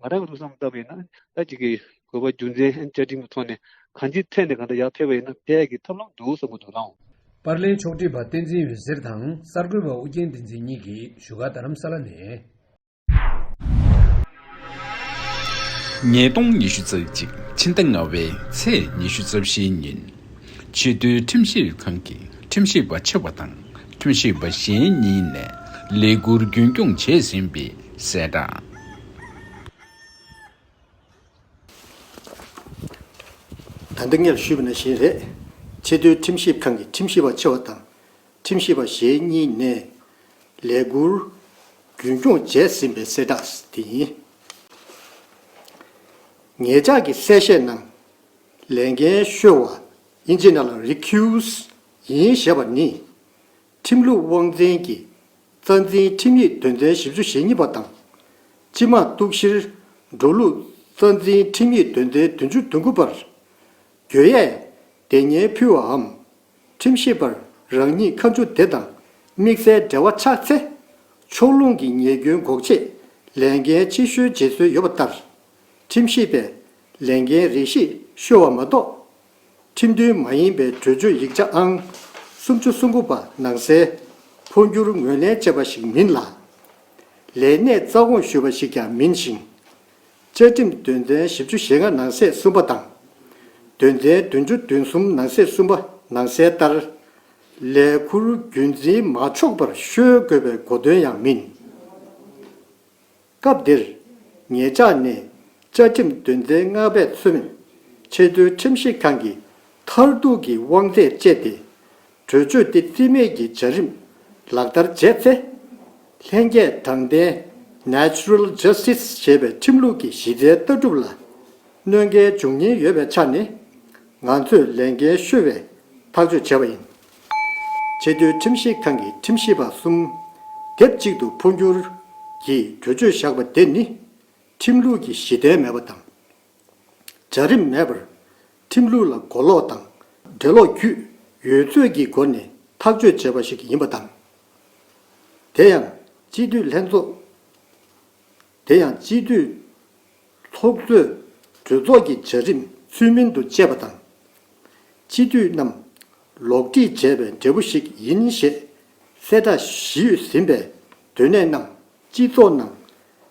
[SPEAKER 12] ང་རང་ལུགས་བསམ་ལྟ་བུ་ཡིན་ན་ད་ཅིག་གིས་དགོས་པ་རྒྱུ་མཚན་བཅའ་ཁྲིམས་ཀྱི་ཐོག་ནས་གང་ཅིའི་ཐད་ནས་གང་འདྲ་ཡག་ཕེབས་པ་ཡིན་ན་འཕེལ་ཡག་གི་ཐབས་ལམ་འདུག་བསམ་གྱི་འདུག་ལའང། པར་ལེན་ཕྱོགས་བསྒྲིགས་པ་
[SPEAKER 9] བསྟན་འཛིན་འོད་ཟེར་དང་གསར་འགོད་པ་ཨོ་རྒྱན་བསྟན་འཛིན་གཉིས་ཀྱིས་བཞུགས་སྒར་རྡ་རམ་ས་ལ་ནས།
[SPEAKER 13] ཉིས་སྟོང་ཉི་ཤུ་རྩ་གཅིག་ཕྱི་ཟླ་ལྔ་བའི་ཚེས་ཉི་ཤུ་རྩ་བཞི་ཉིན། ཆེས་མཐོའི་ཁྲིམས་ཞིབ་ཁང་གི་ཁྲིམས་ཞིབ་པ་ཆེ་བ་དང་ཁྲིམས་ཞིབ་པ་གཞན་གཉིས་ནས་ལས་ཁུར་རྒྱུན་སྐྱོང་བྱས་ཟིན་པའི་གསལ་བསྒྲགས།
[SPEAKER 7] ད་འདི་ངས་ཞུས་པ་ནི་གཞན་རེད། ཆེས་མཐོའི་ཁྲིམས་ཞིབ་ཁང་གི་ཁྲིམས་ཞིབ་པ་ཆེ་བ་དང་ཁྲིམས་ཞིབ་པ་ཞེ་གཉིས་ནས་ལས་འཁུར་རྒྱུན་སྐྱོང་བྱས་ཟིན་པའི་གསལ་བསྒྲགས་དེ་ཡིན། ངེད་ཅག་གི་གསལ་བཤད་ནང་ལས་འགན་ཤོར་བ་ཨིན་ཇི་ནཱ་ལ་རི་ཁིའུ་སི་ཡིན་ཞེས་པ་ནི། ཁྲིམས་ལུགས་དབང་འཛིན་གྱི་རྩ་འཛིན་ཁྲིམས་ཡིག་དོན་ཚན་བཞི་བཅུ་ཞེ་གཉིས་པ་དང། སྤྱི་དམངས་གཏུག་བཤེར་འགྲོ་ལུགས་རྩ་འཛིན་ཁྲིམས་ཡིག་དོན་ཚན་དོན་བཅུ་དོན་དགུ་པར། གྱོད་ཡས་སྡེ་བརྙན་ཕུལ་བའམ། ཁྲིམས་ཞིབ་པར་རང་ཉིད་ཁ་མཆུ་དེ་དང་དམིགས་བསལ་འབྲེལ་བ་ཆགས་ཚེ། ཕྱོགས་ལྷུང་གི་ཉེས་སྐྱོན་འགོག་ཆེད་ལས་འགན་ཕྱི་བཤོལ་བྱེད་སྲོལ་ཡོད་པ་ལྟར། ཁྲིམས་ཞིབ་པས་ལས་འགན་རིགས་ཤིག་བཤོལ་བ་མ་གཏོགས་ཁྲིམས་མཐུན་མ་ཡིན་པའི་གྲོས་ཆོད་ཡིག་ཆ་ཨང་སུམ་ཅུ་སུམ་དགུ་པ་ནང་གསལ། འཕོ་འགྱུར་ངོས་ལེན་བྱས་པ་ཞིག་མིན་ལ། ལས་གནས་རྩ་དགོངས་ཞུས་པ་ཞིག་ཀྱང་མིན་ཞིང། བཅའ་ཁྲིམས་དོན་ཚན་བཞི་བཅུ་ཞེ་ལྔ་ནང་གསེས་གསུམ་པ་དང། དོན་ཚན་བདུན་ཅུ་བདུན་གསུམ་ནང་གསེས་གསུམ་པ་ནང་གསལ་ལྟར། ལས་འཁུར་རྒྱུན་འཛིན་མ་ཆོག་པར་གཤོལ་དགོས་པའི་གོ་དོན་ཡང་མིན། སྐབས་འདིར། ངེད་ཅག་ནི་བཅའ་ཁྲིམས་དོན་ཚན་ལྔ་པས་མཚོན། ཆེས་མཐོའི་ཁྲིམས་ཞིབ་ཁང་གི་མཐར་གཏུག་གི་དབང་ཚད་སྤྱད་དེ། གྲོས་ཆོད་འདི་རྩིས་མེད་ཀྱི་བྱ་རིམ་ལག་བསྟར་བྱས་ཚེ། ལྷན་སྐྱེས་དྲང་བདེན། Natural Justice། ཞེས་པའི་ཁྲིམས་ལུགས་ཀྱི་གཞི་རྩའི་ལྟ་གྲུབ་ལ་གནོད་འགལ་འབྱུང་ཉེན་ཡོད་པའི་ཆ་ནས། ང་ཚོས་ལས་འགན་ཤོར་བའི་ཐག་གཅོད་བྱས་པ་ཡིན། ཆེས་མཐོའི་ཁྲིམས་ཞིབ་ཁང་གི་ཁྲིམས་ཞིབ་པ་གསུམ་དེབ་གཅིག་ཏུ་འཕོ་འགྱུར་གྱིས་གྲོས་ཆོད་བཞག་པ་དེ་ནི། ཁྲིམས་ལུགས་ཀྱི་གཞི་གདན་མེད་པ་དང། བྱ་རིམ་མེད་པར། ཁྲིམས་ལུགས་ལ་མགོ་ལོག་དང་འགྲེལ་ལོག་བརྒྱུད་ཡོད་ཚོད་ཀྱི་སྒོ་ནས་ཐག་གཅོད་བྱས་པ་ཞིག་ཡིན་པ་དང། དེ་ཡང་སྤྱི་འཐུས་ལྷན་ཚོགས། དེ་ཡང་སྤྱི་འཐུས། ཚོགས་གཙོས་གྲོས་ཚོགས་ཀྱི་བྱ་རིམ་ཚུལ་མིན་དུ་སྤྱད་པ་དང། སྤྱི་འཐུས་རྣམས་ལོག་འདྲིས་བྱས་པའི་འབྲས་བུ་ཞིག་ཡིན་ཞེས་གསལ་བསྒྲགས་བཞིས་ཟིན་པའི་དོན་གནད་རྣམས་སྤྱི་ཚོགས་ནང་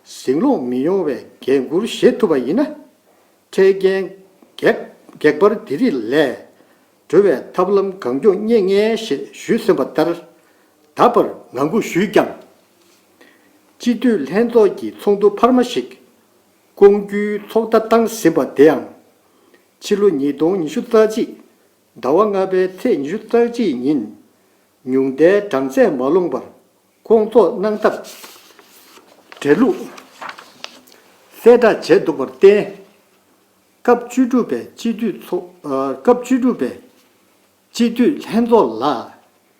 [SPEAKER 7] ཟིང་སློང་མི་ཡོང་བའི་འགན་འཁུར་བཞེས་ཐུབ་པ་ཡིན་ན། འཕྲལ་རྐྱེན་བགེགས་འབར་དེ་རིགས་ལས་གྲོལ་བའི་ཐབས་ལམ་གང་མགྱོགས་རྙེད་ངེས་ཞེས་ཞུས་ཟིན་པ་ལྟར་ད་བར་ངང་སྒུག་ཞུས་ཀྱང། སྤྱི་འཐུས་ལྷན་ཚོགས་ཀྱི་ཚོགས་འདུ་འཕར་མ་ཞིག་བསྐོང་རྒྱུའི་ཚོགས་བརྡ་བཏང་ཟིན་པ་དེའང། ཕྱི་ལོ་ཉིས་སྟོང་ཉི་ཤུ་རྩ་གཅིག་ཟླ་བ་ལྔ་པའི་ཚེས་ཉི་ཤུ་རྩ་གཅིག་ཉིན་ཉུང་མཐའི་གྲངས་ཚད་མ་ལོངས་པར་བསྐོང་ཚོགས་གནང་ཐབས་བྲལ་ལུགས་གསལ་བསྒྲགས་བྱས་འདུག་པར་བརྟེན། སྐབས་བཅུ་དྲུག་པའི་སྤྱི་འཐུས་ཚོགས་སྐབས་བཅུ་དྲུག་པའི། སྤྱི་འཐུས་ལྷན་ཚོགས་ལ་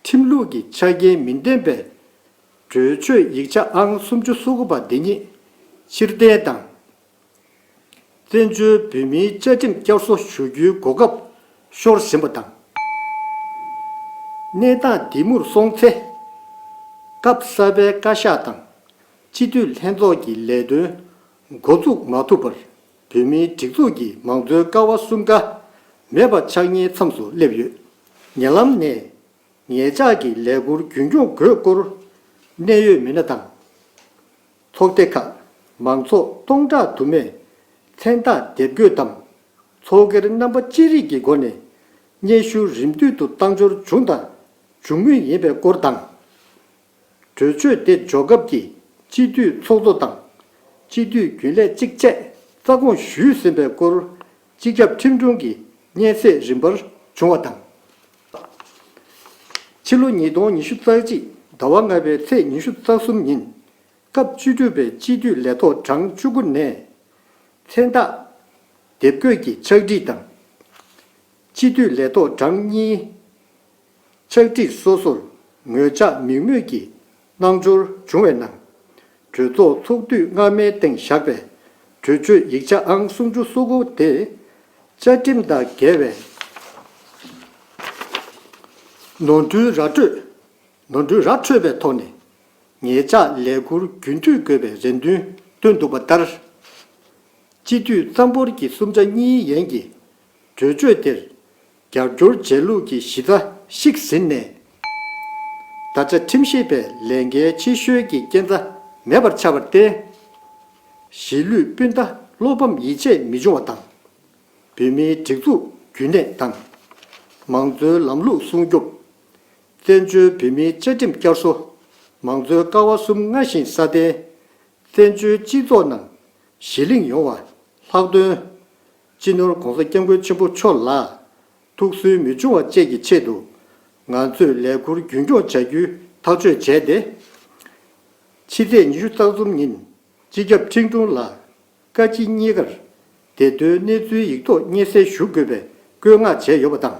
[SPEAKER 7] ཁྲིམས་ལུགས་ཀྱི་ཆ་རྐྱེན་མི་ལྡན་པའི་གྲོས་ཆོད་ཡིག་ཆ་ཨང་སུམ་ཅུ་སོ་དགུ་པ་འདི་ཉིད་ཕྱིར་འཐེན་དང། བཙན་བྱོལ་བོད་མིའི་བཅའ་ཁྲིམས་བསྐྱར་གསོ་ཞུ་རྒྱུའི་གོ་སྐབས་ཤོར་བཞིན་པ་དང། གནས་སྟངས་འདི་མུར་སོང་ཚེ། སྐབས་གསར་པའི་བཀའ་ཤག་དང་སྤྱི་འཐུས་ལྷན་ཚོགས་ཀྱི་ལས་དོན་འགོ་འཛུགས་མ་ཐུབ་པར་བོད་མིའི་སྒྲིག་འཛུགས་ཀྱི་མང་གཙོའི་ཀ་བ་གསུམ་ཀ་མེད་པ་ཆགས་ཉེའི་མཚམས་སུ་སླེབས་ཡོད། ཉེ་ལམ་ནས། ངེད་ཅག་གི་ལས་འཁུར་རྒྱུན་སྐྱོང་དགོས་སྐོར། གནད་ཡོད་མི་སྣ་དང། ཚོགས་སྡེ་ཁག་མང་ཚོགས་སྟོང་ཕྲག་དུ་མས་མཚན་རྟགས་འདེབས་འགོད་དམ། ཚོགས་སྒེར་རྣམ་པ་ཅི་རིགས་ཀྱི་སྒོ་ནས་སྙན་ཞུ་རིམ་བསྟུད་དུ་བཏང་འབྱོར་བྱུང་དང་འབྱུང་མུས་ཡིན་པའི་སྐོར་དང། གྲོས་ཆོད་དེ་འཇོག་སྐབས་ཀྱི་སྤྱི་འཐུས་ཚོགས་གཙོ་དང། སྤྱི་འཐུས་རྒྱུན་ལས་གཅིག་བཅས་རྩ་དགོངས་ཞུས་ཟིན་པའི་སྐོར་སྤྱི་ཁྱབ་ཁྲིམས་དྲུང་གི་སྙན་གསེང་རིམ་པར་བྱུང་བ་དང། ཕྱི་ལོ་ཉིས་སྟོང་ཉི་ཤུ་རྩ་གཅིག་ཟླ་བ་ལྔ་པའི་ཚེས་ཉི་ཤུ་རྩ་གསུམ་ཉིན། སྐབས་བཅུ་དྲུག་པའི་སྤྱི་འཐུས་ལས་ཐོག་གྲངས་བཅུ་དགུ་ནས། མཚན་རྟགས། དེབ་འགོད་ཀྱི་ཕྱག་བྲིས་དང། སྤྱི་འཐུས་ལས་ཐོག་གྲངས་གཉིས། ཕྱག་བྲིས་སོ་སོར་ངོས་ཆ་མིག་མུས་ཀྱི་སྣང་འབྱོར་འབྱུང་བའི་ནང། གྲོས་ཚོགས་ཚོགས་དུས་སྔ་མའི་སྟེང་བཞག་པའི་གྲོས་ཆོད་ཡིག་ཆ་ཨང་སུམ་ཅུ་སོ་དགུ་དེ། བཅའ་ཁྲིམས་དང་འགལ་བའི་ནོར་འཁྲུལ་ར་འཕྲོད་པའི་ཐོག་ནས་ངེད་ཅག་ལས་འཁུར་རྒྱུན་མཐུད་དགོས་པའི་རེ་འདུན་བཏོན་འདུག་པ་ལྟར། སྤྱི་འཐུས་གཙང་པོར་གྱི་གསུམ་ཆ་གཉིས་ཡན་གྱི་གྲོས་ཆོད་དེར་རྒྱབ་སྐྱོར་བྱས་ལུགས་ཀྱི་གཞི་རྩ་ཞིག་ཟིན་ནས། ད་ཆ་ཁྲིམས་ཞིབ་པའི་ལས་འགན་ཕྱི་བཤོལ་གྱི་རྐྱེན་རྩ་མེད་པར་ཆགས་པར་བརྟེན། གཞིས་ལུས་སྤུན་ཟླ་བློ་ཕམ་ཡིད་ཆད་མི་འབྱུང་བ་དང། བོད་མིའི་སྒྲིག་འཛུགས་རྒྱུན་གནས་དང། མང་གཙོའི་ལམ་ལུགས་སྲུང་སྐྱོབ། བཙན་བྱོལ་བོད་མིའི་བཅའ་ཁྲིམས་བསྐྱར་གསོ། མང་གཙོའི་ཀ་བ་གསུམ་སྔར་བཞིན་སྲ་བརྟན། བཙན་བྱོལ་སྤྱི་ཚོགས་ནང་གཞི་གླེང་ཡོང་བ་ལྷག་དོན། སྤྱི་ནོར ྋགོང་ས ྋསྐྱབས་མགོན་ཆེན་པོ་མཆོག་ལ་ཐུགས་སུན་མི་ཕྱུང་བ་བཅས་ཀྱི་ཆེད་དུ། ང་ཚོས་ལས་འཁུར་རྒྱུན་སྐྱོང་བྱ་རྒྱུའི་ཐག་གཅོད་བྱས་ཏེ། ཕྱི་ཚེས་ཉི་ཤུ་རྩ་གསུམ་ཉིན་སྤྱི་ཁྱབ་ཁྲིན་ཀྲུང་ལ་བཀའ་སྤྱི་གཉིས་ཀར་བདེ་དོན་གནས་ཚུལ་ཡིག་ཐོག་སྙན་གསན་ཞུ་དགོས་པའི་བཀོད་མངགས་བྱས་ཡོད་པ་དང།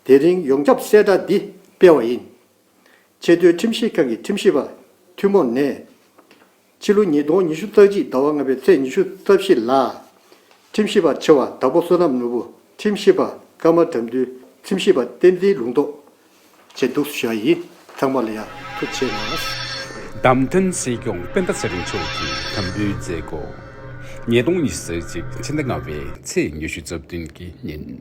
[SPEAKER 7] དེ་རིང་ཡོངས་ཁྱབ་གསལ་བསྒྲགས་འདི་སྤེལ་བ་ཡིན། ཆེས་མཐོའི་ཁྲིམས་ཞིབ་ཁང་གི་ཁྲིམས་ཞིབ་པ་ཐུན་མོང་ནས། ཕྱི་ལོ་ཉིས་སྟོང་ཉི་ཤུ་རྩ་གཅིག་ཟླ་བ་ལྔ་པའི་ཚེས་ཉི་ཤུ་རྩ་བཞི་ལ། ཁྲིམས་ཞིབ་པ་ཆེ་བ་དྭགས་པོ་བསོད་ནམས་ནོར་བུ་ཁྲིམས་ཞིབ་པ་ཀརྨ་དགྲ་འདུལ་ཁྲིམས་ཞིབ་པ་བསྟན་འཛིན་ལུང་རྟོགས། བཅས་འདུག་སུ་ཞིག་ཡིན་ཚང་མ་ལ་ཡག་ཐུགས་ཆེ་ལགས། བདམས་ཐོན་སྲིད་
[SPEAKER 13] སྐྱོང་སྤེན་ཟླ་ཚེ་རིང་མཆོག་གིས་དམ་འབུལ་མཛད། སྒོ་ཉིས་སྟོང་ཉི་ཤུ་རྩ་གཅིག་ཕྱི་ཟླ་ལྔ་བའི་ཚེས་ཉི་ཤུ་རྩ་བདུན་གྱི་ཉིན།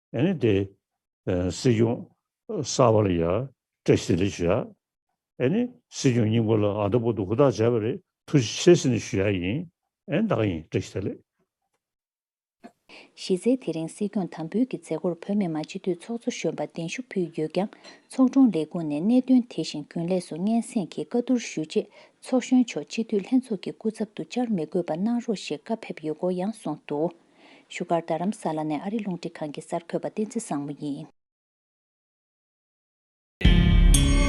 [SPEAKER 14] ཨནི་དེ། སྲིད་སྐྱོང། གསར་བ་ལ་ཡར། ཀྲེ་སི་རེ་ཞུ་ཡ། ཨནི། སྲིད་སྐྱོང་སྙིང་པོ་ལ་ཨ་མདོ་པོ་ཏོ་ཧུར་ཐག་བྱས་པ་རེད་ཐུགས་རྗེ་ཆེ་སི་ནས་ཞུ་ཡ་ཡིན། ཨན་བདག་ཡིན་ཀྲེ་ཞི་ད་ལེ། གཞི་
[SPEAKER 5] རྩའི་དེ་རིང་སྲིད་སྐྱོང་དམ་འབུལ་གྱི་མཛད་སྒོར་བོད་མི་མང་སྤྱི་འཐུས་ཚོགས་གཙོ་གཞོན་པ་གདན་ཞུ་ཕུལ་ཡོད་ཀྱང་ཚོགས་དྲུང་ལས་ཁུངས་ནས་གནད་དོན་དེ་བཞིན་རྒྱུན་ལས་སུ་སྙན་སེང་གིས་བཀའ་བསྡུར་ཞུས་རྗེས་ཚོགས་གཞོན་མཆོག་སྤྱི་འཐུས་ལྷན་ཚོགས་ཀྱི་སྐུ་ཚབ་ཏུ་བཅར་མི་དགོས་པ་གནང་རོགས་ཞེས་བཀའ་ཕེབས་ཡོད་སྐོར་ཡང་གསུངས་འདུག། བཞུགས་སྒར་རྡ་རམ་ས་ལ་ནས་ཨ་རི་རླུང་འཕྲིན་ཁང་གི་གསར་འགོད་པ་བསྟན་འཛིན་བཟང་མོ་ཡིན།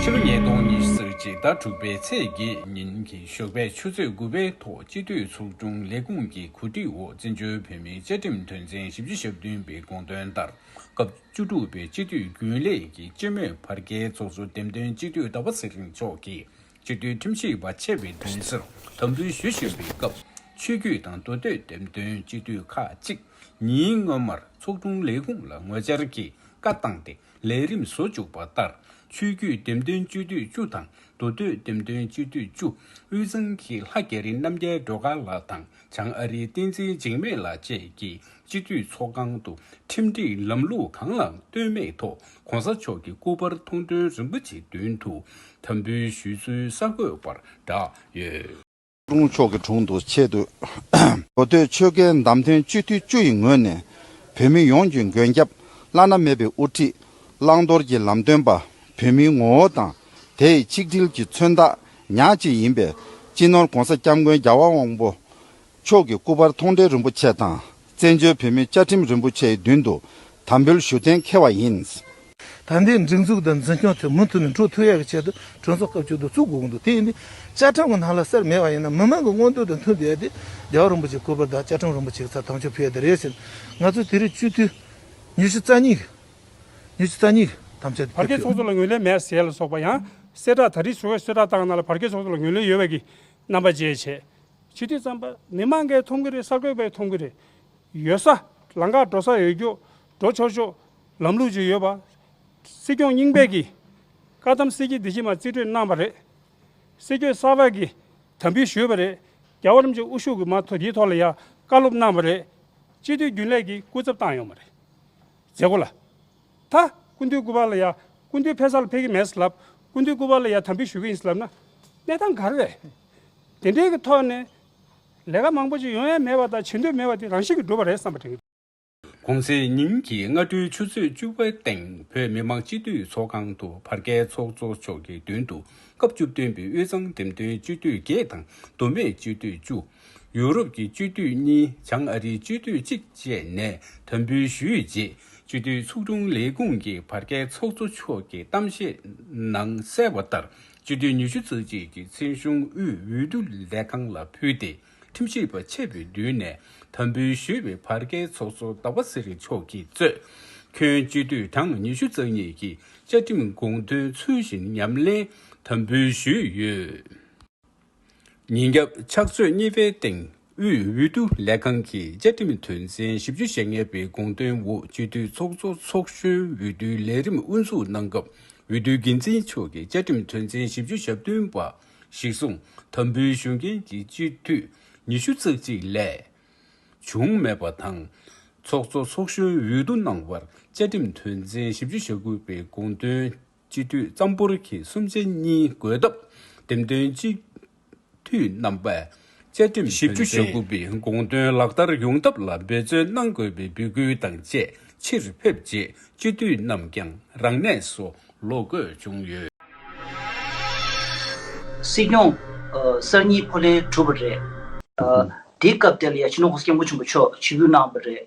[SPEAKER 13] ཕྱི་ལོ་ཉིས་སྟོང་ཉི་ཤུ་ཚེས་གཅིག་ཟླ་དྲུག་པའི་ཚེས་བརྒྱད་ཉིན་གྱི་ཞོགས་པའི་ཆུ་ཚོད་དགུ་པའི་ཐོག་སྤྱི་འཐུས་ཚོགས་ཆུང་ལས་ཁུངས་ཀྱི་གོ་སྒྲིག་འོག་བཙན་བྱོལ་བོད་མིའི་བཅའ་ཁྲིམས་དོན་ཚན་བཞི་བཅུ་ཞབས་བདུན་པའི་དགོངས་དོན་ལྟར་སྐབས་བཅུ་དྲུག་པའི་སྤྱི་འཐུས་རྒྱུན་ལས་ཀྱི་སྤྱི་མོས་བར་བརྒལ་ཚོགས་གཙོ་འདེམས་ཐོན་སྤྱི་འཐུས་ཟླ་བ་ཚེ་རིང་མཆོག་གིས་སྤྱི་མཐུན་ཁྲིམས་ཞིབ་པ་ཆེ་བའི་མདུན་སར་དམ་འབུལ་ཞུ་བཞིན་པའི་སྐབས། ཆོས་བརྒྱུད་དང་མདོ་སྟོད་འགྲེམས་སྟོན་སྤྱི་འཐུས་ཁག་ཅིག་ཉིན་སྔོན་མར་ཚོགས་དྲུང་ལས་ཁུངས་ལ་ངོ་བཅར་གྱིས་བཀའ་བཏང་སྟེ་ལས་རིམ་བཟོ་བཅུག་པ་ལྟར། ཆོས་བརྒྱུད་འགྲེམས་སྟོན་སྤྱི་འཐུས་བཅུ་དང་མདོ་སྟོད་འགྲེམས་སྟོན་སྤྱི་འཐུས་བཅུ། དབུས་གཙང་གི་ལྷ་རྒྱལ་རིན་རྣམ་རྒྱལ་སྒྲོལ་དཀར་ལགས་དང། བྱང་ཨ་རིའི་བསྟན་འཛིན་འཇིགས་མེད་ལགས་བཅས་ཀྱིས་སྤྱི་འཐུས་ཚོགས་ཁང་དུ་ཁྲིམས་སྒྲིག་ལམ་ལུགས་གང་ལའང་ལྟོས་མེད་ཐོག ྋགོང་ས་མཆོག་གི་སྐུ་པར་མཐོང་དོན་རིན་པོ་ཆེ་མདུན་དུ་དམ་འབུལ་ཞུས་ཚུལ་གསར་འགོད་པར་བསྒྲགས་ཡོད། ཀྲུང་གུང་
[SPEAKER 15] ཕྱོགས་ཀྱི་དྲུང་དུ་ཆེད་དུ་གོ་ཐོས་ཆོལ་ཁའི་བདམས་ཐོན་སྤྱི་འཐུས་བཅུ་ཡི་ངོས་ནས་བོད་མི་ཡོངས་ཀྱི་མགོན་སྐྱབས་བླ་ན་མེད་པའི་དབུ་ཁྲིད་བླང་དོར་གྱི་ལམ་སྟོན་པ་བོད་མིའི་ངོ་བོ་དང་དེ་ཡི་ཆིག་སྒྲིལ་གྱི་མཚོན་རྟགས་ཉག་གཅིག་ཡིན་པས་སྤྱི་ནོར ྋགོང་ས ྋསྐྱབས་མགོན་རྒྱལ་བ་དབང་པོ་མཆོག་གི་སྐུ་པར་མཐོང་འབྲེལ་རིན་པོ་ཆེ་དང་བཙན་བྱོལ་བོད་མིའི་བཅའ་ཁྲིམས་རིན་པོ་ཆེའི་མདུན་དུ་དམ་འབུལ་ཞུ་གཏན་འཁེལ་བ་ཡིན། ད་ལྟའི་སྒྲིག་
[SPEAKER 3] འཛུགས་དང་འཛིན་སྐྱོང་དེ་མུ་མཐུད་ནས་འགྲོ་ཐུབ་ཡག་གི་ཆེད་དུ་གྲོས་ཚོགས་སྐབས་བཅུ་དུ་བཙུགས་དགོས་གི་འདུག་དེ་ཡིན་དུས་བཅའ་ཁྲིམས་གི་ནང་ལ་གསེར་མེད་པ་ཡིན་ན་མི་མང་གི་མངོན་འདོད་དང་མཐུན་དེ་ཡ་དེ་རྒྱལ་བ་རིན་པོ་ཆེའི་སྐུ་པར་དང་བཅའ་ཁྲིམས་རིན་པོ་ཆེ་གི་ཚབ་དམ་ཆོས་ཕུལ་ཡ་དེ་རེད་ཟེར་ནས་ང་ཚོས་དེ་རིང་སྤྱི་འཐུས་ཉི་ཤུ་རྩ་གཉིས་ནི་ཚོད་ལྟ་གཉིས་ཐམས་ཅད་དུ་བར་བརྒལ་ཚོགས་གཙོ་ལ་ངོས་ལེན་མེད་
[SPEAKER 4] ཟེར་ལ་སོགས་པ་ཡང་གསལ་བསྒྲགས་ད་རེས་ཟུར་བས་གསོལ་བསྒྲགས་བཏང་གནང་ལ་བར་བརྒལ་ཚོགས་གཙོ་ལ་ངོས་ལེན་ཡོད་བས་ཀྱི་རྣམ་པ་བརྗེད་བྱས། ཕྱི་དུས་རྩམ་པ་མི་མང་འགའི་འཐུང་གི་རེད་གསར་འགོད་པའི་འཐུང་གི་རེད། ཡོད་ས་ལང་ཀར་འགྲོ་ས་འོས་སྐྱོག་འགྲོ་ཆོག་ཆོག་ལམ་ལུགས་ཅིག་ཡོད་པ། སྲིད་སྐྱོང་རྙིང་པས་ཀྱི་བཀའ་གདམས་གསེར་གྱི་འདི་ཕྱི་མ་རྩིས་སྤྲོད་གནང་བ་རེད། སྲིད་སྐྱོད་གསར་བས་ཀྱི་དམ་འབུལ་ཞུས་པ་རེད། རྒྱ་བོད་རིམ་བྱོན་དབུ་བཞུགས་ཀྱི་མ་ཐོ་དེའི་ཐོག་ལ་ཡང་བཀའ་སློབ་གནང་བ་རེད། སྤྱི་འཐུས་རྒྱུན་ལས་ཀྱི་སྐུ་ཚབ་བཏང་ཡོང་བ་རེད། མཛད་སྒོ་ལ། ད། སྐུ་མདུན་སྐུ་པར་ལ་ཡ། སྐུ་མདུན་ཕེབས་ས་ལ་ཕེབས་ཀྱི་མེད་ལབ། སྐུ་མདུན་སྐུ་པར་ལ་ཡ་དམ་འབུལ་ཞུ་གི་ཡིན་ལབ་ན། གནས་སྟངས་ག་རེ་རེད། དེ་འདྲའི་གི་ཐོག་ནས། ལས་ཀ་མང་པོ་ཅིག་ཡོང་ཡ་མེད་པ་དང་བྱེད་འདོད་མེད་པ་དེ་རང་བཞིན་གྱིས་འགྲུབ་པ་རེད་བསམ་པ་དྲན་གྱི། གོང་ཚེས་
[SPEAKER 13] ཉིན་གྱི་སྔ་དྲོའི་ཆུ་ཚོད་བཅུ་པའི་སྟེང་བོད་མི་མང་སྤྱི་འཐུས་ཚོགས་ཁང་དུ་བར་བརྒལ་ཚོགས་གཙོ་མཆོག་གི་མདུན་དུ་སྐབས་བཅུ་བདུན་པའི་དབུས་གཙང་འགྲེམས་སྟོན་སྤྱི་འཐུས་བརྒྱད་དང་མདོ་སྨད་སྤྱི་འཐུས་བཅུ། ཡུ་རོབ་ཀྱི་སྤྱི་འཐུས་གཉིས་བྱང་ཨ་རིའི་སྤྱི་འཐུས་གཅིག་བཅས་ནས་དམ་འབུལ་ཞུས་རྗེས་སྤྱི་འཐུས་ཚོགས་དྲུང་ལས་ཁུངས་ཀྱི་བར་བརྒལ་ཚོགས་གཙོ་མཆོག་གིས་གཏམ་བཤད་ནང་གསལ་བ་ལྟར་སྤྱི་འཐུས་ཉི་ཤུ་རྩ་གཅིག་གིས་མཚན་གཞུང་དབུས་འོས་བསྡུ་ལས་ཁང་ལ་ཕུལ་ཏེ་ཁྲིམས་ཞིབ་པ་ཆེད་པོའི་མདུན་ནས་དམ་འབུལ་ཞུས་པའི་བར་བརྒལ་ཚོགས་གཙོ་ཟླ་བ་ཚེ་རིང་མཆོག་གིས་གཙོས། ཁྱོན་སྤྱི་འཐུས་གྲངས་ཉི་ཤུ་རྩ་གཉིས་ཀྱིས་བཅའ་ཁྲིམས་དགོངས་དོན་ཚུལ་བཞིན་ཉམས་ལེན་དམ་འབུལ་ཞུས་ཡོད། ཉིན་རྒྱབ་ཕྱག་ཚོད་གཉིས་པའི་སྟེང་དབུས་འོས་བསྡུ་ལས་ཁང་གི་བཅའ་ཁྲིམས་དོན་ཚན་བཞི་བཅུ་ཞེ་ལྔ་པའི་དགོངས་དོན་འོག་སྤྱི་འཐུས་ཚོགས་གཙོ་ཚོགས་གཞོན་འོས་བསྡུའི་ལས་རིམ་དབུ་འཛུགས་གནང་སྐབས་འོས་བསྡུའི་འགན་འཛིན་མཆོག་གིས་བཅའ་ཁྲིམས་དོན་ཚན་བཞི་བཅུ་ཞབས་བསྟུན་པ་ཞིག་གསུང་དམ་འབུལ་ཞུ་མཁན་གྱི་སྤྱི་འཐུས་ཉི་ཤུ་རྩ་གཅིག་ལས་བྱུང་མེད་པ་དང། ཚོགས་གཙོ་ཚོགས་གཞོན་འོས་བསྡུ་གནང་བར་བཅའ་ཁྲིམས་དོན་ཚན་བཞི་བཅུ་ཞེ་དགུ་པའི་དགོངས་དོན་སྤྱི་འཐུས་རྩམ་ཕུར་གྱིས་སུམ་ཆ་གཉིས་བགོས་སྟབས་འདེམས་ཐོན་སྤྱི་འཐུས་རྣམ་པས་བཅའ་ཁྲིམས་ཞིབ་བཅུ་ཞེ་དགུ་པའི་དགོངས་དོན་ལག་བསྟར་ཡོང་ཐབས་ལ་འབད་བརྩོན་གནང་དགོས་པའི་འབོད་སྐུལ་དང་བཅས་ཕྱིར་ཕེབས་རྗེས་སྤྱི་འཐུས་རྣམས་ཀྱང་རང་གནས་སུ་ལོག་དགོས་བྱུང་ཡོད། སྲིད་
[SPEAKER 16] སྐྱོང། གསར་གཉིས་ཕོ་ལྷན་གྲུབ་པ་རེད། དེའི་སྐབས་དེ་ལ་ཡ་ཆེ་ནོ་ཧོ་སྐྱབས་མགོན་ཆེན་པོ་མཆོག་ཇུས་འབུལ་གནང་བ་རེད།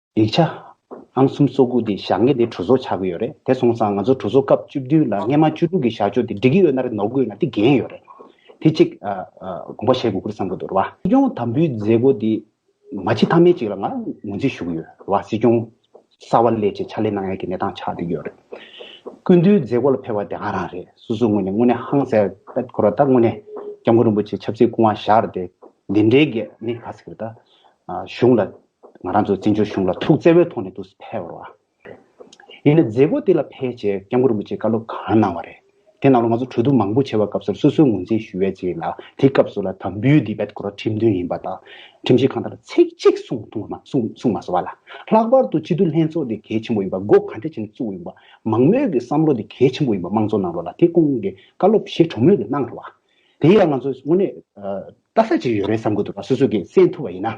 [SPEAKER 17] ཡིག་ཆ། ཨང་གསུམ་བཅུ་དགུ་དེ་ཞག་ངེས་དེ་གྲོས་ཚོགས་ཆགས་གི་ཡོད་རེད་དེ་སོང་ཙང་ང་ཚོ་གྲོས་ཚོགས་སྐབས་བཅུ་བདུན་ལ་སྔས་མ་བཅུ་དྲུག་གི་ཞག་ཅོ་དེ་འགྲིག་གི་ཡོད་ན་རེད་ནོར་གི་ཡོད་ན་དེ་འགན་ཡོད་རེད་དེ་གཅིག་དགོངས་པ་བཞེས་དགོས་ཁུལ་བསམ་གི་འདུག་རེད་བ། སྲིད་སྐྱོང་དམ་འབུལ་མཛད་སྒོ་དེ་མ་ཕྱི་ཐ་མའི་ཅིག་ལ་ང་ངོས་འཛིན་ཞུ་གི་ཡོད་རེད་བ་སྲིད་སྐྱོང་གསར་བ་ལས་བྱེད་ཕྱག་ལས་གནང་ཡས་ཀྱི་གནས་སྟངས་ཆགས་འདུག་ཡོད་རེད། སྐུ་མདུན་མཛད་སྒོ་ལ་ཕེབས་བ་དེ་ང་རང་རེད་སོ་སོའི་ངོས་ནས་དངོས་གནས་ཧང་སེར་ཏད་འཁོར་བ་ད་དངོས་གནས་སྐྱབས་མགོན་རིན་པོ་ཆེ་ཆབ་སྲིད་སྐུ་དབང་བཞག་རེད་དེ་འདི་འདྲའི་གེགས་ནི་ག་ཟེ་རེད་ད་གཞུང་ལ་ང་རང་ཚོ་བཙན་བྱོལ་གཞུང་ལ་ཐུགས་བརྩེ་བའི་ཐོག་ནས་འདུག་ཕལ་བར་བ། ཡིན་ནའི་མཛད་སྒོ་དེ་ལ་ཕལ་ཆེར་སྐྱབས་མགོན་རིན་པོ་ཆེས་བཀའ་སློབ་གང་གནང་བ་རེད། དེ་རྣམས་ལ་ང་ཚོ་གྲོས་བསྡུར་མང་པོ་བྱས་པ་སྐབས་སོར་སོ་སོའི་ངོས་འཛིན་ཞུ་བས་རྗེས་ལ་དེ་སྐབས་སུ་ལ་དྭགས་འབུལ་དེ་བེད་ཀོར་ཁྲིམས་མཐུན་ཡིན་པ་དང། ཁྲིམས་ཞིབ་ཁང་དང་ལ་ཚིག་གཅིག་གསུང་ཐུང་བ་གསུང་མ་སོང་བ་ལ། ལྷག་པར་དུ་སྤྱི་འཐུས་ལྷན་ཚོགས་དེ་གལ་ཆེན་པོ་ཡིན་པ་སྒོ་གང་ཐད་བྱས་ནས་བཙུགས་ཡོད་པ། མང་མོས་ཀྱི་བསམ་བློ་དེ་གལ་ཆེན་པོ་ཡིན་པ་དམངས་གཙོ་ནང་ལོགས་ལ་དེ་སྐོང་གི་བཀའ་སློབ་བཞེས་གྲོས་མོས་དེ་གནང་ཐུབ་བ། དེ་ཡིན་ལ་ང་ཚོས་དངོས་གནས་ལྟ་ས་ཅིག་ཡོད་རེད་བསམ་གྱི་འདུག་བ་སོ་སོས་ཀྱིས་གསན་ཐུབ་བ་ཡིན་ན།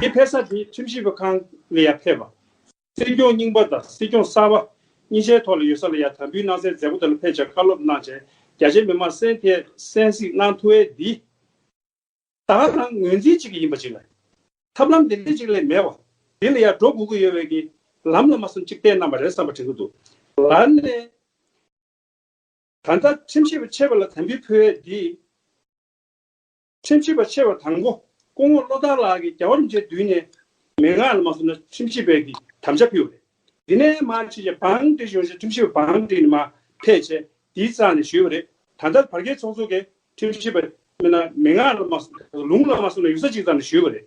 [SPEAKER 4] དེའི་ཕེབས་ས་དེ་ཁྲིམས་ཞིབ་པ་ཁང་ལ་ཡང་ཕེབས་པ། སྲིད་སྐྱོང་རྙིང་པ་དང་སྲིད་སྐྱོང་གསར་བ་གཉིས་ཆའི་ཐོག་ལ་ཡོད་ས་ལ་ཡང་དམ་འབུལ་གནང་སའི་མཛད་སྒོ་དེ་ལ་ཕེབས་བཅར་བཀའ་སློབ་གནང་བྱས་རྒྱ་ཆེའི་མི་མང་སེམས་ཐད་གསན་གཟིགས་གནང་ཐུ་བས་འདི་དག་ནང་ངོས་འཛིན་གཅིག་གི་ཡིན་པ་ཅིག་ལ། ཐབས་ལམ་འདི་འདྲའི་ཅིག་ལས་མེད་བ། འདི་ལ་ཡང་འགྲོ་དགོས་ཀྱི་ཡོད་བས་ཀྱི་ལམ་ལ་མ་སོམས་ཅིག་བསྟན་གནང་བ་རེད་བསམ་པ་དྲན་གྱི་འདུག་ལར་ནས་ད་ལྟ་ཁྲིམས་ཞིབ་པ་ཆེ་བ་ལ་དམ་འབུལ་ཕུལ་བས་འདི། ཁྲིམས་ཞིབ་པ་ཆེ་བ་དང་པོ་སྐུ་ངོ་བློ་བཟང་ལགས་ཀྱིས་རྒྱ་བོད་མཇལ་དུས་ནས་མན་ངག་ལ་མ་སོང་ན་ཁྲིམས་ཞིབ་པའི་གིས་དམ་བཅའ་ཕུལ་བ་རེད། དེ་ནས་མ་ཕྱི་ཞེ་འབངས་འདྲེས་བྱུང་ཞེས་ཁྲིམས་ཞིབ་པ་འབངས་འདྲེས་ནི་མ་ཕལ་ཆེ་དེའི་རྩ་ནས་ཞུས་པ་རེད། ད་ལྟར་བར་བརྒལ་ཚོགས་གཙོ་གིས་ཁྲིམས་ཞིབ་པ་མན་ངག་ལ་མ་སོང་ན་ཡུག་ས་གཅིག་ཙམ་ཞུས་པ་རེད།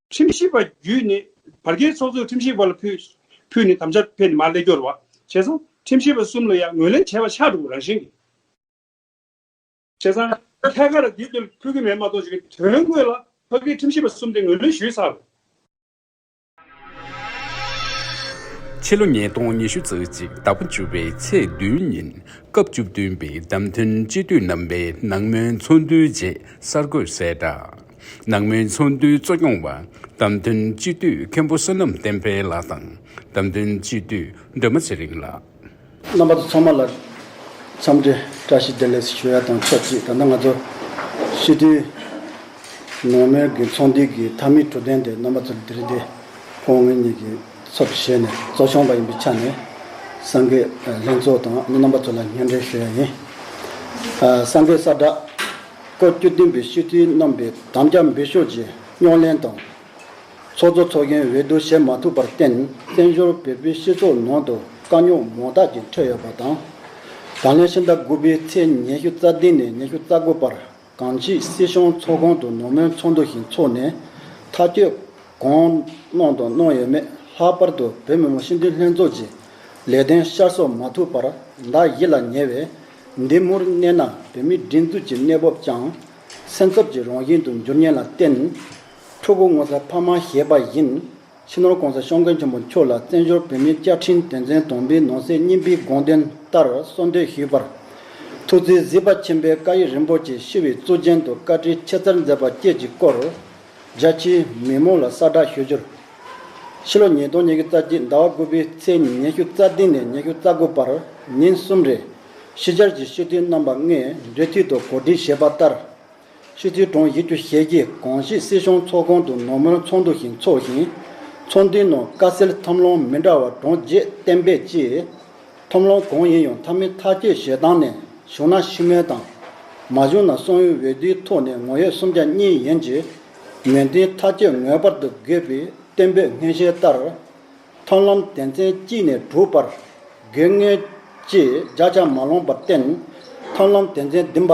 [SPEAKER 4] ཁྲིམས་ཞིབ་པ་བརྒྱུད་ནས་བར་བརྒལ་ཚོགས་གཙོས་ཁྲིམས་ཞིབ་པ་ལ་ཕུལ་ནས་དམ་བཅའ་ཕེབས་ནས་མར་སླེ་སྐྱོར་བ་བྱས་ཚང་ཁྲིམས་ཞིབ་པ་གསུམ་ལ་ཡང་ངོས་ལེན་བྱས་པ་ཕྱག་དྲུག་རང་བཞིན་གྱིས་བྱས་ཚང། ཐད་ཀར་དེ་ལྟར་ཕུལ་གྱི་མེད་མ་གཏོགས་ཀྱི་དོན་དངོས་ལ་བར་བརྒལ་ཁྲིམས་ཞིབ་པ་གསུམ་དེ་ངོས་ལེན་ཞུས་ཚར། ཕྱི་ལོ་ཉིས་སྟོང་ཉི་ཤུ་ཚེས་གཅིག་ཟླ་བ་བཅུ་བའི་ཚེས་བདུན་
[SPEAKER 13] ཉིན་སྐབས་བཅུ་བདུན་པའི་བདམས་ཐོན་སྤྱི་འཐུས་རྣམ་པའི་ནང་མོལ་ཚོགས་འདུའི་རྗེས་གསར་འགོད་གསལ་བསྒྲགས། ནང་མའི་ཚོགས་འདུའི་གཙོ་སྐྱོང་བ། བདམས་ཐོན་སྤྱི་འཐུས་མཁན་པོ་བསོད་ནམས་བསྟན་
[SPEAKER 3] འཕེལ་ལགས་དང་བདམས་ཐོན་སྤྱི་འཐུས་སྒྲོལ་མ་ཚེ་རིང་ལགས། རྣམ་པ་ཚང་མ་ལ་འཚམས་འདྲི་བཀྲ་ཤིས་བདེ་ལེགས་ཞུ་ཡ་དང་ཆབས་ཅིག་ད་ལྟ་ང་ཚོ་སྤྱི་འཐུས་ནང་མའི་གི་ཚོགས་འདུའི་གི་མཐའ་མའི་དྲོ་དན་དེ་རྣམ་པ་ཚོ་ལ་དིརི་དེ་ཕོ་ངོས་གཉིས་ཀྱི་ཚབ་བཞེས་ནས་གཙོ་སྐྱོང་བ་ཡིན་པའི་ཆ་ནས་སངས་རྒྱས་ལྷན་ཚོགས་དང་རྣམ་པ་ཚོ་ལ་སྙན་འབྲེལ་ཞུ་ཡ་ཡིན། སངས་རྒྱས་གསར་བསྒྲགས། སྐོར་བཅུ་བདུན་པའི་ཤུལ་ཚུལ་རྣམ་པའི་དམ་བཅའ་འབུལ་ཤོག་རྗེས་རྙོག་གླེང་དང། ཚོགས་གཙོ་ཚོགས་གཞོན་འོས་བསྡུ་བྱེད་མ་ཐུབ་པར་བརྟེན་བཙན་བྱོལ་བོད་པའི་སྤྱི་ཚོགས་ནང་དུ་དཀའ་རྙོག་མང་དག་ཅིག་འཕྲད་ཡོད་པ་དང། ད་ལན་ཕྱི་ཟླ་དགུ་པའི་ཚེས་ཉེར་བཞི་རྩ་བདུན་ནས་ཉེར་བཅུ་རྩ་དགུ་བར་གངས་སྐྱིད་སྲིད་གཞུང་ཚོགས་ཁང་དུ་ནོར་མོན་ཚོགས་འདུ་ཞིག་འཚོགས་ནས་ཐག་གཅོད་གང་གནང་དང་གནང་ཡོད་མེད་ལྷག་པར་དུ་བོད་མི་མང་སྤྱི་འཐུས་ལྷན་ཚོགས་ཀྱི་ལས་དོན་ཤར་གསོ་མ་ཐུབ་པར་བདག་ཡིད་ལ་ཉེ་བའི་འདི་མུར་གནས་ན་བོད་མིའི་སྒྲིག་འཛུགས་ཀྱི་གནས་བབ་ཀྱང་སེམས་འཚབ་ཀྱི་རང་བཞིན་དུ་འགྱུར་ཉེན་ལ་བརྟེན། ཕྲུ་གུ་ངོ་ཚ་ཕ་མ་ཞེས་པ་བཞིན་ཕྱི་ནང་གང་སར་ཤོང་མཁན་ཆེན་པོ་མཆོག་ལ་བཙན་བྱོལ་བོད་མིའི་བཅའ་ཁྲིམས་དོན་ཚན་དང་པོའི་ནང་གསེས་གཉིས་པའི་དགོངས་དོན་ལྟར་གསོལ་འདེབས་ཞུས་པར། ཐུགས་བརྩེ་གཟི་པ་ཆེན་པོའི་བཀའ་ཡིག་རིན་པོ་ཆེ་ཤི་བའི་གཙུག་རྒྱན་དུ་བཀའ་ཁྲིའི་ཆེ་མཚར་མཛད་པ་བཅས་ཀྱི་སྐོར། རྒྱལ་སྤྱིའི་མི་དམངས་ལ་གསལ་བསྒྲགས་ཞུ་རྒྱུར། ཕྱི་ལོ་ཉིས་སྟོང་ཉེར་དགུ་རྩ་གཅིག་ཟླ་བ་དགུ་པའི་ཚེས་ཉིན་ཉི་ཤུ་རྩ་བདུན་ནས་ཉི་ཤུ་རྩ་དགུ་བར་ཉིན་གསུམ་རེར། ཕྱི་རྒྱལ་གྱི་ཤི་འཐུས་རྣམ་པ་ལྔས་འབྲེལ་མཐུད་དུ་གོ་སྒྲིག་བྱས་པ་ལྟར། ཤི་འཐུས་གྲོངས་ཡིག་བརྒྱུད་བཤེར་གྱིས་གངས་སྐྱིད་སྲིད་གཞུང་ཚོགས་ཁང་དུ་ནོར་མོན་ཚོགས་འདུ་ཞིག་འཚོགས་ཤིང། ཚོགས་འདུའི་ནང་དཀའ་སེལ་ཐབས་ལམ་མི་འདྲ་བ་གྲངས་བརྒྱད་གཏན་འབེབས་ཀྱིས། ཐོམ་ལོང་གང་ཡིན་ཡང་ཐ་མི་ཐ་ཁྱོད་ཞེ་སྡང་ནས་བཞུགས་ན་ཤི་སྨོན་དང། མ་བཞུགས་ན་སོང་ཡུལ་འོས་བསྡུའི་ཐོག་ནས་ངོ་ཡོད་སུམ་བརྒྱ་གཉིས་ཡིན་གྱི། མི་མཐུན་ཐ་ཁྱོད་ངོས་པར་དུ་དགོས་པའི་བསྟན་པའི་སྔོན་བཤད་ལྟར། ཐོམ་ལོང་དད་མཚན་གཅིག་ནས་གྲུབ་པར་དགོས་ངེས། ཅེས་བརྒྱ་ཆ་མ་ལོངས་པར་བསྟན། ཐོམ་ལོང་དད་མཚན་བདུན་པ།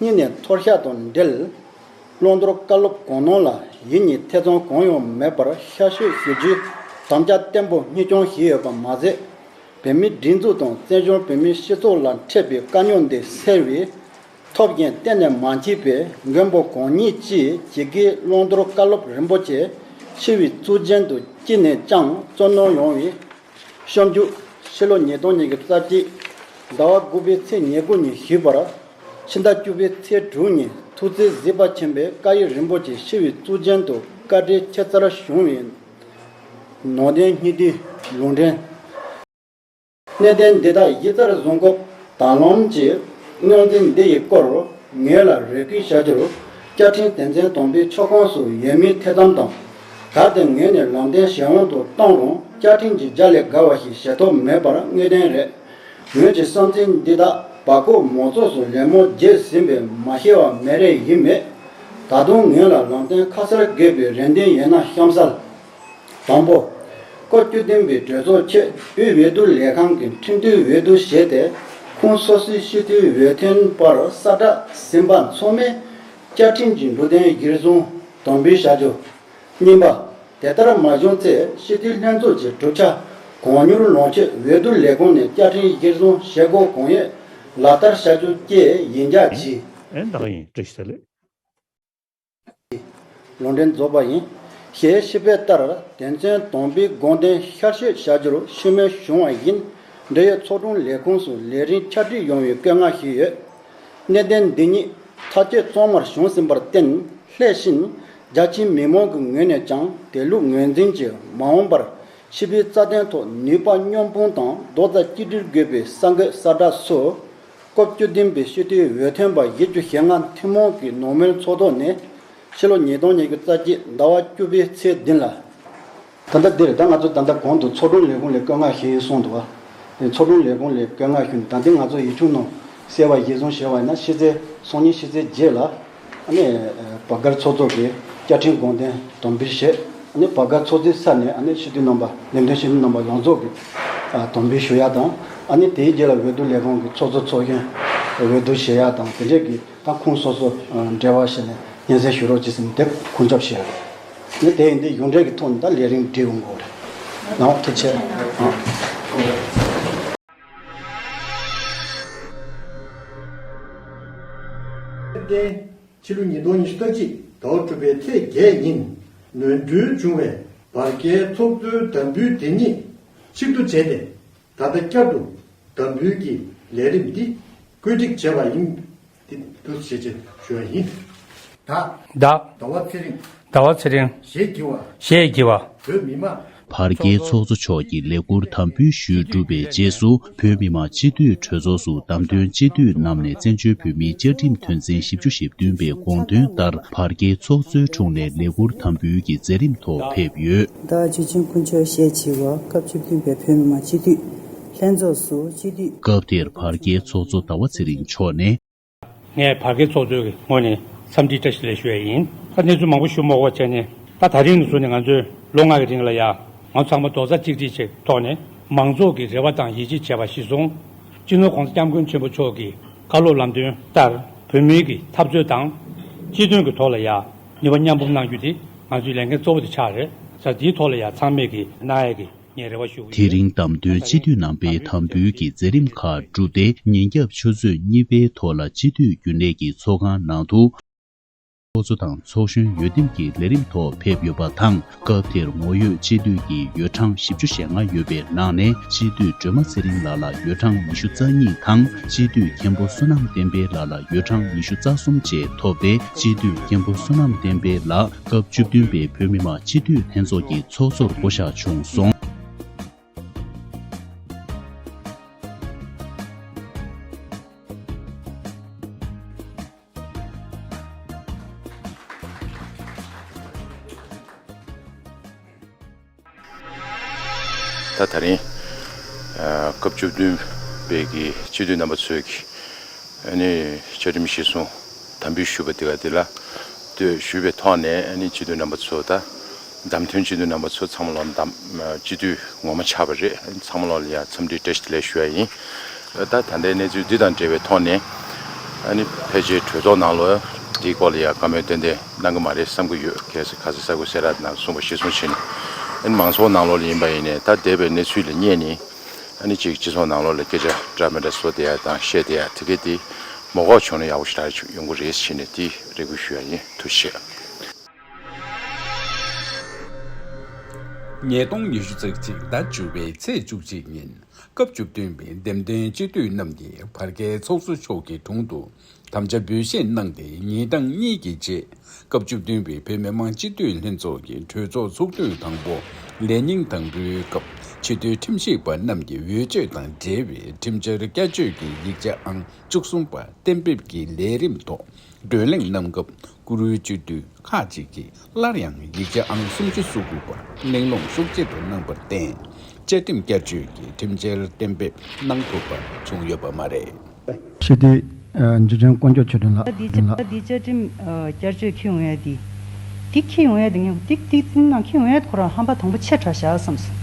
[SPEAKER 3] གཉིས་ནས་མཐོ་གཤགས་དང་འབྲེལ། བློ་མཐོར་བཀའ་སློབ་དགོངས་གནོང་ལ་ཡིད་གཉིས་ཐེ་ཚོམ་གང་ཡང་མེད་པར་ཤ་ཤོད་ཞུ་རྒྱུའི་དམ་བཅའ་བརྟན་པོ་གཉིས་སྐྱོང་བཞིན་ཡོད་པ་མ་ཟད། བོད་མིའི་སྒྲིག་འཛུགས་དང་བཙན་བྱོལ་བོད་མིའི་སྤྱི་ཚོགས་ལ་འཕྲད་པའི་དཀའ་རྙོག་འདི་སེལ་བའི་ཐོབ་རྒྱན་གཏན་ནས་མ་མཆིས་པས་མགོན་པོ་གང་ཉིད་ཅེས་ཇི་དགེའི་བློ་མཐོར་བཀའ་སློབ་རིན་པོ་ཆེ་ཕྱི་བའི་གཙུག་རྒྱན་དུ་བསྐྱིལ་ནས་ཅང་གཙོ་གནོང་ཡོང་བའི་བཤམས་རྒྱུ། ཕྱི་ལོ་ཉིས་སྟོང་ཉིན་གྱི་རྩ་དཀྱིལ་ཟླ་བ་དགུ་པའི་ཚེས་ཉེར་དགུ་ཉིན་ཞི་བར། ཕྱི་ཟླ་བཅུ་པའི་ཚེས་དྲུག་ཉིན་ཐུགས་བརྩེའི་གཟིགས་པ་ཆེན་པོའི་བཀའ་ཡིག་རིན་པོ་ཆེ་ཞི་བའི་གཙུག་རྒྱན་དུ་བཀའ་འབྲེལ་ཁྱད་མཚར་བྱུང་བས། ནང་བསྟན་སྙིང་ཐིག་ལུང་འདྲེན། གནས་བརྟན་འདི་དག་ཡིག་རྩར་བཟུང་སྐབས་དང་བླངས་ཀྱིས་རྙོག་འཛིང་འདི་ཡི་སྐོར་ངེད་ལ་རེ་སྐུལ་བྱ་རྒྱུར། བསྐྱར་འཕྲིན་དེ་མཚན་དོམ་པའི་ཕྱོགས་ཁོངས་སུ་ཡོད་མིན་ཐེ་ཚོམ་དང་ད་ལྟའི་ངོས་ནས་ལམ་བསྟན་གཞན་འོང་དུ་བཏང་རུང་བཅའ་ཁྲིམས་ཀྱི་རྒྱ་ལས་འགལ་བ་ཞིག་བྱེད་ཐོབ་མེད་པར་དངོས་བདེན་རེད། ངོས་ཀྱི་བསམ་ཚུལ་འདི་དག་བ་ཀོ་མོ་ཚོགས་སུ་ལད་མོ་རྒྱས་ཟིན་པས་མ་ཤེས་བ་མེད་རེ་ཡིན་མེད། ད་དུང་ངོས་ལ་ལམ་བསྟན་ཁ་གསལ་དགོས་པའི་རེ་འདུན་ཡོད་ན་གཤམ་གསལ། དང་པོ། བཀའ་བརྒྱུད་བསྟན་པའི་གྲོས་ཚོགས་ཆེད་དབུས་འོས་བསྡུ་ལས་ཁང་གི་ཁྲིམས་མཐུན་འོས་བསྡུ་བྱས་ཏེ་ཁུངས་སོ་སོའི་སྤྱི་འཐུས་འོས་ཐོན་པར་གསར་བསྒྲགས་ཟིན་པ་མཚོན་མིན་བཅའ་ཁྲིམས་ཀྱི་འབྲུ་དོན་གཞིར་བཟུང། དང་པོའི་བྱ་སྤྱོད། གཉིས་པ། དེ་ལྟར་མ་བྱུང་ཚེ་སྤྱི་འཐུས་ལྷན་ཚོགས་ཀྱི་གྲུབ་ཆ་གང་མྱུར་ལོངས་སྤྱོད་འོས་བསྡུ་ལས་ཁུངས་ནས་བསྐྱར་འཕྲིན་གཞིར་བཟུང་བྱེད་སྒོ་གང་ཡོད་ལག་བསྟར་བྱ་རྒྱུ་བཅས་ཡིན་རྒྱ་
[SPEAKER 14] ཆེ།
[SPEAKER 3] ལུང་འདྲེན་རྫོགས་པ་ཡིན། ཞེས་ཕྱི་དཔེ་ལྟར་དེ་མཚོན་དང་པོའི་དགོངས་དོན་ཤར་བཤད་བྱ་རྒྱུར་ཤུགས་སྣོན་བྱུང་བ་བཞིན་འབྲེལ་ཡོད་ཚོགས་དྲུང་ལས་ཁུངས་སུ་ལས་རིམ་འཆར་སྒྲིག་ཡོང་བའི་བཀའ་མངགས་ཞུས་ཡོད། གནས་བརྟན་འདི་ཉིད་ཐ་དད་བཙོང་མར་བྱུང་ཟིན་པར་བརྟེན་ལྷས་བྱིན་རྒྱ་ཆེའི་མི་མང་གི་ངོས་ནས་ཀྱང་དེ་ལུགས་ངོས་འཛིན་གྱིས་མ་འོངས་པར་ཕྱི་པའི་རྩ་དོན་ཐོག་ནུས་པ་སྙོམས་འཕུང་དང་རྡོག་རྩ་གཅིག་སྒྲིལ་དགོས་པའི་ས་འགོད་ས་བསྒྲགས་སུ། སྐབས་བཅུ་བདུན་པའི་ཤུལ་ཏེའི་འོས་ཐོན་པ་ཡིག་བཅུ་ཞེ་ལྔ་ཐུན་མོང་གི་ནོར་མོལ་ཚོགས་ཐོག་ནས། ཕྱི་ལོ་ཉིས་སྟོང་ཉེར་དགུ་རྩ་གཅིག་ཟླ་བ་བཅུ་པའི་ཚེས་བདུན་ལ། ད་ལྟ་འདིར་ད་ང་ཚོ་ད་ལྟ་གོང་དུ་ཚོགས་དྲུང་ལས་ཁུངས་ལས་བསྐོས་མངགས་ཞུས་ཡིན་གསུངས་འདུག་བ། ཚོགས་དྲུང་ལས་ཁུངས་ལས་བསྐོས་མངགས་ཞུས་ནས་ད་འདི་ང་ཚོ་ཡིག་ཆུང་ནང་གསལ་བར་གཞིས་བཟུང་ཞེས་བ་ཡིན་ན་ཕྱི་ཚེས་སོ་གཉིས་ཕྱི་ཚེས་བརྒྱད་ལ། ནས། བ་སྒར་ཚོགས་གཙོ་གིས་བཅའ་ཁྲིམས་དགོངས་དོན་དོན་འབུལ་བཞེས། ནས་
[SPEAKER 17] བ་སྒར་ཚོགས་གཙོའི་ས་ནས་ནས་ཞི་བདེ་རྣམ་པ་ལས་དོན་ཞིབ་འབྲི་རྣམ་པ་ཡོངས་རྫོགས་ཀྱིས། དོན་འབུལ་ཞུ་ཡག་དང། ནས་དེའི་རྗེས་ལ་འོས་བསྡུ་ལས་ཁང་གི་ཚོགས་གཙོ་ཚོགས་གཞོན། འོས་བསྡུ་བཞེས་ཡག་དང་དེ་འབྲེལ་གྱི། ད་ཁོང་སོ་སོ་འབྲེལ་བ་བྱས་ནས་ཉན་ཟེར་ཞུ་རོགས་གྱིས་ཟིན་དེབ་ཁུངས་ཁྱབ་བྱས་ཡོད། ངས་དེ་ཡིན་དུས་གཞུང་འབྲེལ་གྱི་ཐོག་ནས་ད་ལས་རིང་བྲིས་འོང་གི་རེད། ནའོ་ཐུགས་ཆེ།
[SPEAKER 1] དཔལ་ལྡན། ཕྱི་ལོ་ཉིས་སྟོང་ཉི་ཤུ་རྩ་གཅིག་དྭོགས་དྲུག་པའི་ཚེས་བརྒྱད་ཉིན། ནོན་སྦྲུལ་འབྱུང་བའི་བར་བརྒལ་ཚོགས་གཙོའི་དམ་འབུལ་དེ་ཉིད་ཕྱིར་བསྡུ་བྱས་ཏེ། ད་ལྟ་བསྐྱར་དུ་དམ་འབུལ་གྱི་ལས་རིམ་འདི་བཀོད་སྒྲིག་བྱས་པ་ཡིན། འདི་བསྡུ་བྱེད་ཅེས་ཞུ་བ་ཡིན། བདག། བདག། ཟླ་བ་ཚེ་རིང། ཟླ་བ་ཚེ་རིང། ཞེས་བགྱི་བ། ཞེས་བགྱི་བ། བོད་མི་མང། བར་བརྒལ་ཚོགས་གཙོ་
[SPEAKER 18] མཆོག་གིས་ལས་འཁུར་དམ་འབུལ་ཞུས་གྲུབ་པའི་རྗེས་སུ་བོད་མི་མང་སྤྱི་འཐུས་གྲོས་ཚོགས་སུ་བདམས་ཐོན་སྤྱི་འཐུས་རྣམས་ནས་བཙན་བྱོལ་བོད་མིའི་བཅའ་ཁྲིམས་དོན་ཚན་བཞི་བཅུ་ཞེ་བདུན་པའི་དགོངས་དོན་ལྟར་བར་བརྒལ་ཚོགས་གཙོའི་དྲུང་ནས་ལས་འཁུར་དམ་འབུལ་གྱི་མཛད་རིམ་ཐོག་ཕེབས་ཡོད། ཟླ་བ་བཅུ་ཆེན་སྐུ་
[SPEAKER 19] མཆོད་བཤད་བྱིས་བ་སྐབས་བཅུ་བདུན་པའི་བོད་མི་མང་སྤྱི་འཐུས་ལྷན་ཚོགས་སུ་སྤྱི་འཐུས། སྐབས་དེར་བར་བརྒལ་
[SPEAKER 18] ཚོགས་གཙོ་ཟླ་བ་ཚེ་རིང་མཆོག་ནས། ངས་བར་
[SPEAKER 4] བརྒལ་ཚོགས་གཙོའི་ངོས་ནས་འཚམས་འདྲིའི་བཀྲ་ཤིས་ལན་ཞུ་བས་ཡིན། ད་གནས་ཚུལ་མང་པོ་ཞུ་མོག་པོ་བྱས་ནས་ད་ད་རིང་ནས་བཟུང་ནས་ང་ཚོས་ལོ་ལྔ་གི་རིང་ལ་ཡང་ང་ཚོ་ཚང་མ་རྡོག་རྩ་གཅིག་སྒྲིལ་གྱི་ཐོག་ནས་མང་ཚོགས་ཀྱི་རེ་བ་དང་ཡིད་ཆེས་བྱས་པ་གཞི་བཟུང། སྤྱི་ནོར ྋགོང་ས ྋསྐྱབས་མགོན་ཆེན་པོ་མཆོག་གི་བཀའ་སློབ་ལམ་སྟོན་ལྟར་བོད་མིའི་གི་འཐབ་རྩོད་དང་སྤྱི་དོན་གྱི་ཐོག་ལ་ཡང། ནུས་པ་མཉམ་སྤུངས་གནང་རྒྱུ་དེ་ང་ཚོའི་ལས་འགན་གཙོ་བོ་དེ་ཆགས་རེད་ས་དེའི་ཐོག་ལ་ཡང་ཚང་མས་ཀྱི་ནག་ཡག་གི་ངས་རེ་བ་ཞུ་གི་དེ་ཡོད། རིང་
[SPEAKER 18] བདམས་ཐོན་སྤྱི་འཐུས་རྣམ་པའི་དམ་འབུལ་གྱི་མཛད་རིམ་ཁག་བསྒྲུབས་ཏེ་ཉིན་རྒྱབ་ཆུ་ཚོད་གཉིས་པའི་ཐོག་ལ་སྤྱི་འཐུས་རྒྱུན་ལས་ཀྱི་ཚོགས་ཁང་ནང་དུ། ཚོགས་གཙོ་དང་ཚོགས་གཞོན་ཡོ་འདེམས་ཀྱི་ལས་རིམ་ཐོག་ཕེབས་ཡོད་པ་དང། སྐབས་དེར་ངོ་ཡོད་སྤྱི་འཐུས་ཀྱི་ཡོད་གྲངས་བཞི་བཅུ་ཞེ་ལྔ་ཡོད་པའི་ནང་ནས་སྤྱི་འཐུས་སྒྲོལ་མ་ཚེ་རིང་ལགས་ལ་ཡོད་གྲངས་ཉི་ཤུ་རྩ་གཉིས་དང་སྤྱི་འཐུས་མཁན་པོ་བསོད་ནམས་བསྟན་འཕེལ་ལགས་ལ་ཡོད་གྲངས་ཉི་ཤུ་རྩ་གསུམ་བཅས་ཐོབ་སྟེ་སྤྱི་འཐུས་མཁན་པོ་བསོད་ནམས་བསྟན་འཕེལ་ལགས་སྐབས་བཅུ་བདུན་པའི་བོད་མི་མང་སྤྱི་འཐུས་ལྷན་ཚོགས་ཀྱི་ཚོགས་གཙོར་བསྐོ་བཞག་བྱུང་སོང།
[SPEAKER 20] ད་ད་རིང་སྐབས་བཅུ་བདུན་པའི་གི་སྤྱི་འཐུས་རྣམ་པ་ཚོས་གི་ཨ་ནི་བཅའ་ཁྲིམས་གཞི་བཟུང་དམ་འབུལ་ཞུས་པ་དེ་ག་དེ་ལ་ལྟོས་ཞུས་པའི་ཐོག་ནས་ཨ་ནི་སྤྱི་འཐུས་རྣམ་པ་ཚོ་ད་བདམས་ཐོན་སྤྱི་འཐུས་རྣམ་པ་ཚོ་ཚང་མ་ལོ་འདབ་སྤྱི་འཐུས་ངོ་མ་ཆགས་པ་རེད་ཚང་མ་ལོ་ལ་ཡང་འཚམས་འདྲི་བཀྲ་ཤིས་ལེགས་ཞུ་ཡ་ཡིན་ད་ལྟ་ད་ལྟའི་གནས་ཚུལ་འདི་དང་འབྲེལ་བའི་ཐོག་ནས་ཨ་ནི་ཕལ་ཆེར་གྲོས་ཚོགས་ནང་ལོ་འདིའི་སྐོར་ལ་ཡང་བཀའ་མོལ་ཏན་ཏན་གནང་གི་མ་རེད་བསམ་གི་ཡོད་གལ་སྲིད་ཁ་ཟས་ས་གོས་སེ་ར་ནང་གསུངས་པ་གཞི་བཟུང་བྱས་ནས་ཨ་ནི་མང་ཚོགས་ནང་ལོ་ལ་ཡིན་པ་ཡིན་ནས་ད་འདས་པའི་གནས་ཚུལ་ལ་བསྙད་ནི་ཨ་ནི་ཅིག་སྤྱི་ཚོགས་ནང་ལོ་ལ་སྐད་ཆ་འདྲ་མི་འདྲ་བཟོ་བསྡད་ཡ་དང་བཤད་བསྡད་ཡ་དེ་གས་དེ་མོ་འགོག་བྱུང་ན་ཡག་པོ་ཞིག་རག་ཡོང་གི་རེད་བྱས་ནས་དེ་རེ་སྐུལ་ཞུ་ཡ་ཡིན་ཐུགས་ཆེ།
[SPEAKER 13] ཉིས་སྟོང་ཉི་ཤུ་ཚེས་གཅིག་ཟླ་བཅུ་བའི་ཚེས་བཅུ་གཅིག་ཉིན་སྐབས་བཅུ་བདུན་པའི་འདེམས་ཐོན་སྤྱི་འཐུས་རྣམས་ཀྱིས་བར་བརྒལ་ཚོགས་གཙོ་མཆོག་གི་དྲུང་དུ་དམ་བཅའ་འབུལ་བཞེས་གནང་སྟེ་ཉིན་གྲངས་གཉིས་ཀྱི་རྗེས་སྐབས་བཅུ་བདུན་པའི་བོད་མི་མང་སྤྱི་འཐུས་ལྷན་ཚོགས་ཀྱི་གྲོས་ཚོགས་ཚོགས་དུས་དང་པོ་ལས་ཉིན་དང་པོའི་སྐབས་ཕྱི་སྡོད་ཁྲིམས་ཞིབ་པ་རྣམས་ཀྱི་འོས་ཆོས་དང་འབྲེལ་བའི་ཁྲིམས་འཆར་བསྐྱར་བཅོས་ཀྱི་ཡིག་ཆ་ཨང་བཅུ་གསུམ་པ་གཏན་འབེབས་ཀྱི་ལས་རིམ་ཐོག་བགྲོ་གླེང་གནང་སྐབས་བཀུར་འོས་སྤྱི་འཐུས་ཁག་ཅིག་གིས་སླར་ཡང་ཡིག་ཆ་ཨང་སུམ་ཅུ་སོ་དགུ་པ་གླེང་སློང་ཤུགས་ཆེ་རུ་གནང་པར་བརྟེན་བཅའ་ཁྲིམས་བསྐྱར་བཅོས་ཀྱི་ཁྲིམས་འཆར་གཏན་འབེབས་གནང་ཐུབ་པ་བྱུང་ཡོད་པ་མ་རེད། ཆེ་བསྟི།
[SPEAKER 21] འཇིགས་བྱང་བསྐོ་འཇོག་ཆོས་སྒྲོན་ལགས། བཀྲ་ལྷ་བསྟི། བཅའ་ཁྲིམས་
[SPEAKER 2] བསྐྱར་བཅོས་ཁེ་འོས་བསྟི། བསྟི་ཁེ་འོས་བསྟི། བསྟི་བསྟི་བསྟི་ན་ཁེ་འོས་བསྟི་ཁོ་རང་ཧམ་པ་དང་པོ་ཆེ་དྲགས་བཞག་བསམ་སོང།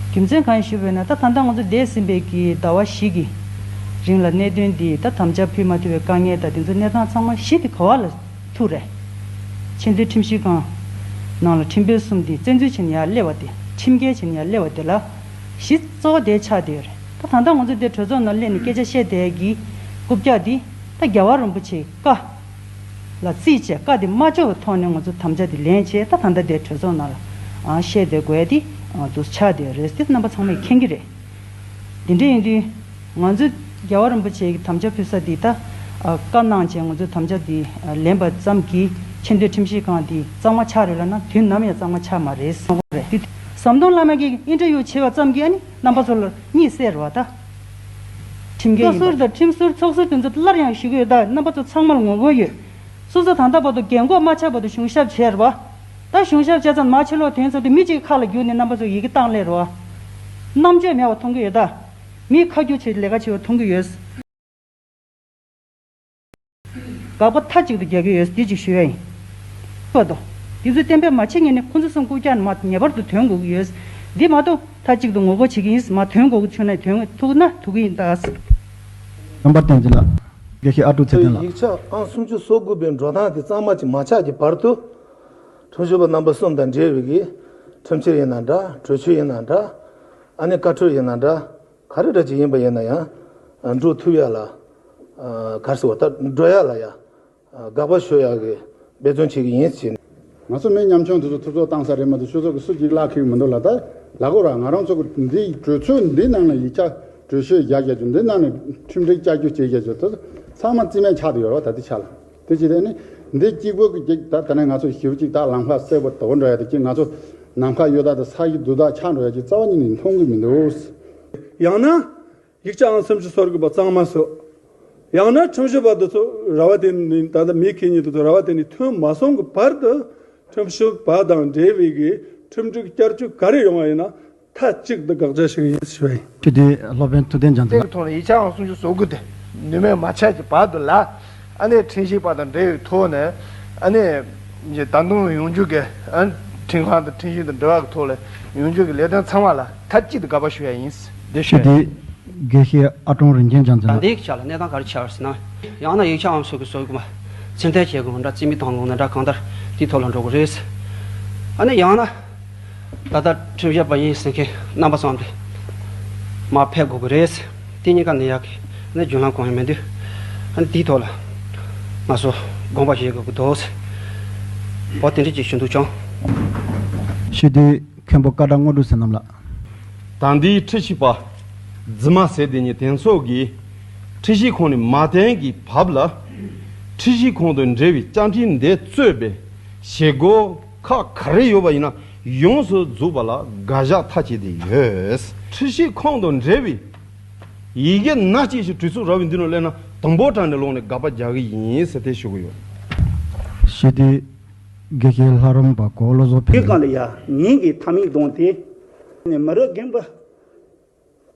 [SPEAKER 2] རྒྱུ་མཚན་གང་ཡིན་ཞུ་བས་ན་ད་ད་ལྟ་ང་ཚོ་འདས་ཟིན་པའི་གི་ཟླ་བ་ཞིག་གི། རིང་ལ་གནད་དོན་འདིས་ད་དམ་བཅའ་ཕུད་མ་ཐུབ་པའི་དཀའ་ངལ་དང་དེ་ཚོའི་གནས་སྟངས་ཚང་མ་ཞི་སྟེ་གོ་བ་ལ་ཐུག་རེ། ཆེས་མཐོའི་ཁྲིམས་ཞིབ་ཁང། ནང་ལ་ཁྲིམས་དཔོན་གསུམ་དེ་བཙན་འཛུལ་བྱས་ནས་ཡར་སླེབས་བ་དེ་ཁྲིམས་འགལ་བྱས་ནས་ཡར་སླེབས་བ་དེ་ལ་གཞི་གཙོ་བོ་དེ་ཆགས་བསྡད་ཡོད་རེད་ད་ད་ལྟ་ང་ཚོ་དེ་གྲོས་ཚོགས་ནང་སླེབས་ནས་སྐད་ཆ་བཤད་དེ་གི་རྐུབ་བཀྱག་དེ་ད་རྒྱ་བ་རིན་པོ་ཆེའི་བཀའ་ལ་རྩིས་བྱས་བཀའ་དེ་མ་འབྱོར་བའི་ཐོག་ནས་ང་ཚོ་དམ་བཅའ་དེ་ལེན་བྱས་ད་ད་ལྟ་དེ་གྲོས་ཚོགས་ནང་ལ་བཤད་དེ་དགོས་དེ་དུ་ཆགས་བསྡད་ཡོད་རེད་ཟེར་ཏེ་རྣམ་པ་ཚང་མ་ཡིས་མཁྱེན་གྱི་རེད། དེ་འདྲ་ཡིན་དུས། ང་ཚོས་རྒྱལ་བ་རིན་པོ་ཆེའི་དམ་བཅའ་ཕུལ་ས་འདི་ད་བཀའ་གནང་བྱས་ང་ཚོས་དམ་བཅའ་འདི་ལེན་པ་ཙམ་གྱིས་ཆེ་མདོའི་ཁྲིམས་ཞིབ་ཁང་འདི་གཙང་མ་ཆགས་རེད་ལབ་ན་དུས་ནམ་ཡང་གཙང་མ་ཆགས་མ་རེད། ཟམ་གདོང་བླ་མ་གིས་ཨིན་ཏེར་ཡུ་བྱས་པ་ཙམ་གྱིས་ཨ་ནི་རྣམ་པ་ཚོ་ལ་གཉིད་སད་རོགས་ད། ཁྲིམས་འགལ་ཡིན་པ། བཀའ་ཟུར་དང་ཁྲིམས་ཟུར་ཚོགས་ཟུར་དེ་ཚོ་སླར་ཡང་ཞུ་གི་ཡོད་ད་རྣམ་པ་ཚོ་ཚང་མར་ངོ་བོ་ཡོད། སོ་སོ་ད་ལྟ་བར་དུ་རྒན་འགོག་མ་ཆགས་བར་དུ་གཞུང་ཞབས་བྱས་རོགས། ད་གཞུང་ཞབས་བྱས་ཙམ་མ་ཕྱི་ལོག་དོན་ཚོགས་དེ་མི་གཅིག་གི་ཁ་ལ་བསྒྱུར་ནས་རྣམ་པ་ཚོ་ཡི་གེ་བཏང་སླད་རོ། རྣམ་དཔྱོད་མེད་བ་མཐོང་གི་ཡོད་ད། མིས་ཁ་བསྒྱུར་བྱས་ཏེ་ལས་ཀ་བྱེད་བ་མཐོང་གི་ཡོད། དགག་པ་མཐའ་གཅིག་ཏུ་རྒྱག་གི་ཡོད་འདི་གཅིག་ཞུ་ཡ་ཡིན། སྤོད་དོ། འདི་ཚོས་གཏན་འབེབས་མ་བྱེད་ངེས་ནས་ཁོང་ཚོ་གསུམ་སྐུ་སྐྱག་ནི་མ་ངེས་པར་དུ་དོན་གོ་གི་ཡོད། འདི་མ་གཏོགས་མཐའ་གཅིག་ཏུ་ངོ་རྒོལ་བྱེད་ཀྱི་ཡིན་མ་དོན་གོ་གི་ཆུག་ན་དོན་ཐུག་ན་ཐུག་གི་ཡིན་ད། རྣམ་
[SPEAKER 21] པ་བསྟན་འཛིན་ལགས། དགེ་བཤེས་ཨ་ཀྲུག་ཚེ་ཁྲོད་བརྟན་ཡིག་ལགས། ཆ་ཨང་སུམ་ཅུ་
[SPEAKER 3] སོ་དགུ་པའི་འགྲོ་སྟངས་དེ་གཙང་མ་གཅིག་མ་ཆགས་ཀྱི་བར་དུ། ཁྲོ་ཆུ་བ་རྣམ་པ་གསུམ་དང་འབྲེལ་བའི་གི། ཁྲོ་མཆེད་ཡིན་ན་འདྲ་ཁྲོ་ཆུ་ཡིན་ན་འདྲ། ཨ་ནི་བཀའ་ཁྲོ་ཡིན་ན་འདྲ། ག་རེ་འདྲ་ཅི་ཡིན་པ་ཡིན་ན་ཡང། འབྲུ་ཐུབ་ཡ་ལ། གར་སི་བ་ལྟར་སྒྲོལ་ཡ་ལ་ཡ། དགག་པ་ཞོལ་ཡ་གི་འབད་བརྩོན་བྱེད་གི་ཡིན་ཟེར། ང་ཚོ་མི་མཉམ་
[SPEAKER 22] ཆུང་དེ་ཚོ་ཐུབ་ཚོགས་བཏང་ས་རེད་མ་གཏོགས་ཆོས་ཚོགས་ཀྱི་སུ་གཅིག་གླག་ཁེའུ་མི་འདུག་ལ་ད་ལ་གོ་ར་ང་རང་ཚོ་འདི་གྲོས་ཚོགས་འདི་ནང་ལ་ཡིག་ཆ་གྲོས་ཆོད་རྒྱག་རྒྱག་རྒྱུ་འདི་ནང་ནས་ཁྲིམས་སྒྲིག་བསྐྱར་རྒྱུ་བྱེད་རྒྱག་རྒྱུ་དེ་ཚོ་ཚང་མ་རྩིས་མེད་ཆགས་དུ་ཡོད་ར་བ་ད་ལྟའི་ཆ་ལ། དེ་ཅི་སྟེ། འདི་གཅིག་པོ་གི་གཅིག་དག་ད་ནས་ང་ཚོ་ཞིབ་ཅིག་དག་ལམ་ཁ་སེར་པོ་དོག་འགྲོ་ཡ་དེ་གཅིག་ང་ཚོ་ནམ་མཁའ་གཡོ་དག་དང་ས་གཞི་རྡུལ་དག་ཆགས་འགྲོ་ཡ་གཅིག་རྩ་བ་ཉིད་ནས་མཐོང་གི་མི་འདུག། ཡང་ན།
[SPEAKER 23] ཡིག་ཆའང་སེམས་ཀྱི་སོར་དགོས་པ་གཙང་མ་ཟོས། ཡང་ན་ཁྲིམས་ཞིབ་པ་དེ་ཚོ་ར་བ་དེ་ནས་ད་ལྟ་མི་ཁེ་ཉིན་དེ་ཚོ་ར་བ་དེ་ནས་ཐོན་མ་སོང་གི་བར་དུ། ཁྲིམས་ཞིབ་པ་དང་འབྲེལ་བའི་གི་ཁྲིམས་སྒྲིག་བསྐྱར་བཅོས་ག་རེ་ཡོང་བ་ཡིན་ན་མཐའ་གཅིག་ཏུ་དགག་བྱ་ཞིག་ཡིན་ཞེས་པ་ཡིན། ཁྱེད་ཀྱིས་སློབ་དཔོན་
[SPEAKER 21] ཐུབ་བསྟན་ལྗང་ཚ་ལགས། ཐོག་ནས་ཡིག་ཆའང་སུམ་ཅུ་སོ་
[SPEAKER 6] དགུ་སྟེ་ནུས་མེད་མ་ཆགས་ཀྱི་བར་དུ་ལ། ཨ་ནེ་ཕྲན་ཤིང་པ་དང་འབྲེལ་བའི་ཐོག་ནས། ཨ་ནེ། ཀྱི་ད་དུང་ཡོང་རྒྱུ་གི། ཁྲིན་ཧྭ་དང་ཁྲིན་ཞིན་དང་འབྲེལ་བ་གི་ཐོག་ལ་ཡོང་རྒྱུ་གི་ལས་དོན་ཚང་མ་ལ་མཐའ་གཅིག་ཏུ་དགག་པ་ཞུ་ཡ་ཡིན། འདི་ཁྱེད་ཀྱིས་དགེ་
[SPEAKER 21] བཤེས་ཨ་ཀྲོང་རིན་ཆེན་ལྗང་ཚ་ལགས། འདིའི་ཡིག་ཆ་ལ་གནས་སྟངས་ག་རེ་
[SPEAKER 8] འཆར་སྲིད་ན། ཡང་ན་ཡིག་ཆའང་སོ་དགུ་སོ་དགུ་མ། ཚིག་མཐའི་ཁྱད་དགོངས་འདྲ་རྩིས་མི་བཏང་ལུང་ན་འདྲ་གང་ལྟར་དེའི་ཐོག་ལ་འགྲོ་དགོས་རེད། ཨ་ནེ་ཡང་ན། ད་ལྟ་ཁྲིམས་བཤད་པ་ཡིན་ཟེར་མཁན་རྣམ་པ་ཚང་འདི་མ་ཕེབས་དགོས་ཀྱི་རེད། དེ་གཉིས་ཀ་ནི་ཡག་ནི་རྒྱུན་ལམ་གང་ཡང་མི་འདུག་ཨང། དེའི་ཐོག་ལ་ང་ཚོ་དགོངས་པ་བཞེས་དགོས་ཀྱི་འདུག་ཟེར་བ་དེ་འདྲས་ཀྱི་ཞུ་འདུག་བྱུང།
[SPEAKER 21] ཤེས་དུས་མཁན་པོ་བཀའ་དགྲ་དངོས་གྲུབ་ཟེར་རྣམས་ལ། ད་འདིའི་
[SPEAKER 1] ཁྲི་བཞི་པ་རྫི་མ་ཟེར་དེ་ཉིད་དེང་སོགས་ཀྱི་ཁྲི་བཞི་ཁོངས་ནས་མ་བསྟན་གྱི་བབ་ལ། ཁྲི་བཞི་ཁོངས་དུ་འདྲེས་པའི་སྤྱང་ཁྲི་འདི་གཙོས་པའི་བྱེད་སྒོ། ཁག་ག་རེ་ཡོད་པ་ཡིན་ན་ཡོངས་སུ་རྫོགས་པ་ལ་དགའ་བཞག་མཐའ་བྱེད་དེ་ཡོད། ཁྲི་ཤེས་ཁང་དང་འབྲེལ་བའི་ཡི་གེ་སྣ་གཅིག་ཞིག་གྲོས་ཚོགས་ར་བའི་མདུན་ནས་གླེང་ན་དང་པོ་དྲངས་ནས་ལོག་ནས་དགག་པ་རྒྱག་གི་ཡིན་ཟེར་ཐལ་ཞུ་གི་ཡོད། ཞི་
[SPEAKER 21] བདེའི་དགེ་རྒན་ལྷ་རམས་པ་གོ་བློ་བཟོ་འཕེལ། ཀཱི་ལི་ཡ་ཉིང་
[SPEAKER 24] གི་ཐ་མིང་བསྡོངས་ཏེ། ནས་མི་རུ་རྒན་པོ།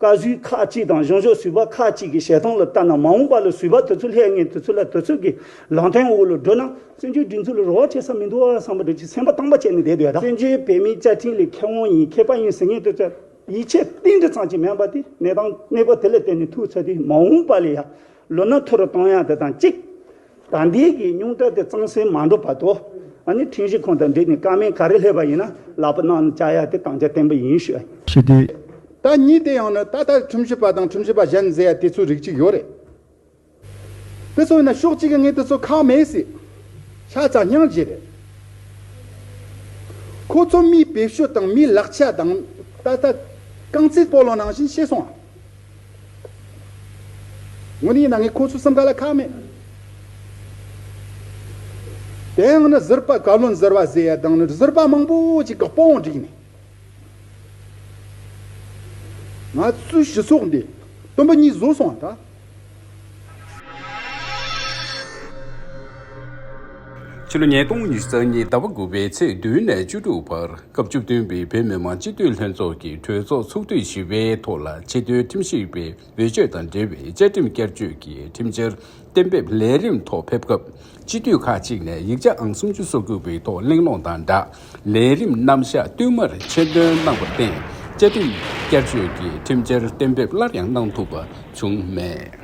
[SPEAKER 24] བཀའ་ཟུར་ཁག་ཅིག་དང་གཞུང་ཕྱོགས་ཟུར་པ་ཁག་ཅིག་གི་བཤད་སྟངས་ལ་ལྟ་ན་མ་འོངས་པ་ལ་ཟུར་པ་དེ་ཚོ་ལྷད་ངན་དེ་ཚོ་ལ་དེ་ཚོ་གི་ལང་ཐེངས་འོག་ལ་འགྲོ་ན་བཙན་བྱོལ་སྒྲིག་འཛུགས་ལ་རོགས་བྱེད་ས་མི་འདུག་བསམ་པ་དེ་ཚོས་སེམས་པ་དྭངས་པ་བྱས་ནས་བསྡད་དུས་ད། བཙན་བྱོལ་བོད་མིའི་བཅའ་ཁྲིམས་ལས་ཁེ་བོང་ཡིན་ཁེ་པ་ཡིན་ཟེར་ངེས་དེ་ཚོས་ཡིད་ཆེས་གཏིང་འདྲི་ཚང་བྱེད་མེད་པ་དེ་གནས་སྟངས་གནས་སྐོར་དེ་ལ་བལྟས་ནས་ཐུགས་ཚད་དེ་མ་འོངས་པ་ལ་ཡང་ལོ་ན་མཐོ་རུ་གཏོང་ཡག་དེ་དང་གཅིག། ད་འདས་ཀྱི་སྙུང་གྲ་དེ་གཙང་སེལ་མ་འགྲོ་བར་དུ། ཨ་ནི་ཁྲིང་ཞི་ཁོང་དང་འབྲེལ་ནས་སྐར་མའི་ག་རེ་སླེབས་པ་ཡིན་ན་ལག་པ་གནང་བཅའ་ཡ་དེ་དང་ཆ་བརྟན་པོ་ཡིན་ཤོད། ཞི་བདེ།
[SPEAKER 21] ད་ཉིད་དེ་
[SPEAKER 22] ཡང་ནི་ད་ལྟར་ཁྲིམས་ཞིབ་པ་དང་ཁྲིམས་ཞིབ་པ་གཞན་ཟེར་ཡ་དེ་ཚོའི་རིགས་གཅིག་ཡོད་རེད། དེ་ཚོ་ཡིན་ན་ཕྱོགས་གཅིག་གི་ངས་དེ་ཚོ་ཁག་མེད་སྲིད། ཤ་ཚ་སྙིང་རྗེ་རེད། ཁོ་ཚོ་མིའི་བེད་སྤྱོད་དང་མིའི་ལག་ཆ་དང། ད་ལྟ། རྐང་རྩེད་སྤོ་ལོ་ནང་བཞིན་ཤེས་སོང། ངོ་ནི་ཡིན་ན་ངས་ཁོ་ཚོའི་སེམས་ཁ་ལ་ཁག་མེད། དེ་ཡང་ནི་གཟིར་པ་བཀའ་བློན་གཟིར་བ་ཟེར་ཡ་དང་ནི་གཟིར་པ་མང་པོ་ཅིག་གི་དཔུང་བསྒྲིགས་ནས། ང་ཚོའི་སྤྱི་ཚོགས་འདི་དུམ་བུ་གཉིས་བཟོས་སོང་བ་འདྲ།
[SPEAKER 13] ཕྱི་ལོ་ཉིས་སྟོང་ཉིས་བརྩེགས་གཉིས་ཟླ་བ་དགུ་པའི་ཚེས་བདུན་ནས་བཅུ་དྲུག་བར་སྐབས་བཅུ་བདུན་པའི་བོད་མི་མང་སྤྱི་འཐུས་ལྷན་ཚོགས་ཀྱི་གྲོས་ཚོགས་ཚོགས་དུས་བཞི་པའི་ཐོག་ལ་ཆེས་མཐོའི་ཁྲིམས་ཞིབ་པའི་འོས་ཆོས་དང་འབྲེལ་བའི་བཅའ་ཁྲིམས་བསྐྱར་བཅོས་ཀྱི་ཁྲིམས་འཆར་གཏན་འབེབས་ལས་རིམ་ཐོག་ཕེབས་སྐབས་སྤྱི་འཐུས་ཁག་གཅིག་ནས་ཡིག་ཆ་ཨང་སུམ་ཅུ་སོ་དགུ་པའི་ཐོག་གླེང་སློང་དང་སྦྲགས་ལས་རིམ་རྣམ་གཞག་བསྟུད་མར་ཆེད་འདོན་གནང་བར་བརྟེན་བཅའ་ཁྲིམས་བསྐྱར་བཅོས་ཀྱི་ཁྲིམས་འཆར་གཏན་འབེབས་སླར་ཡང་གནང་ཐུབ་པ་བྱུང་མེད།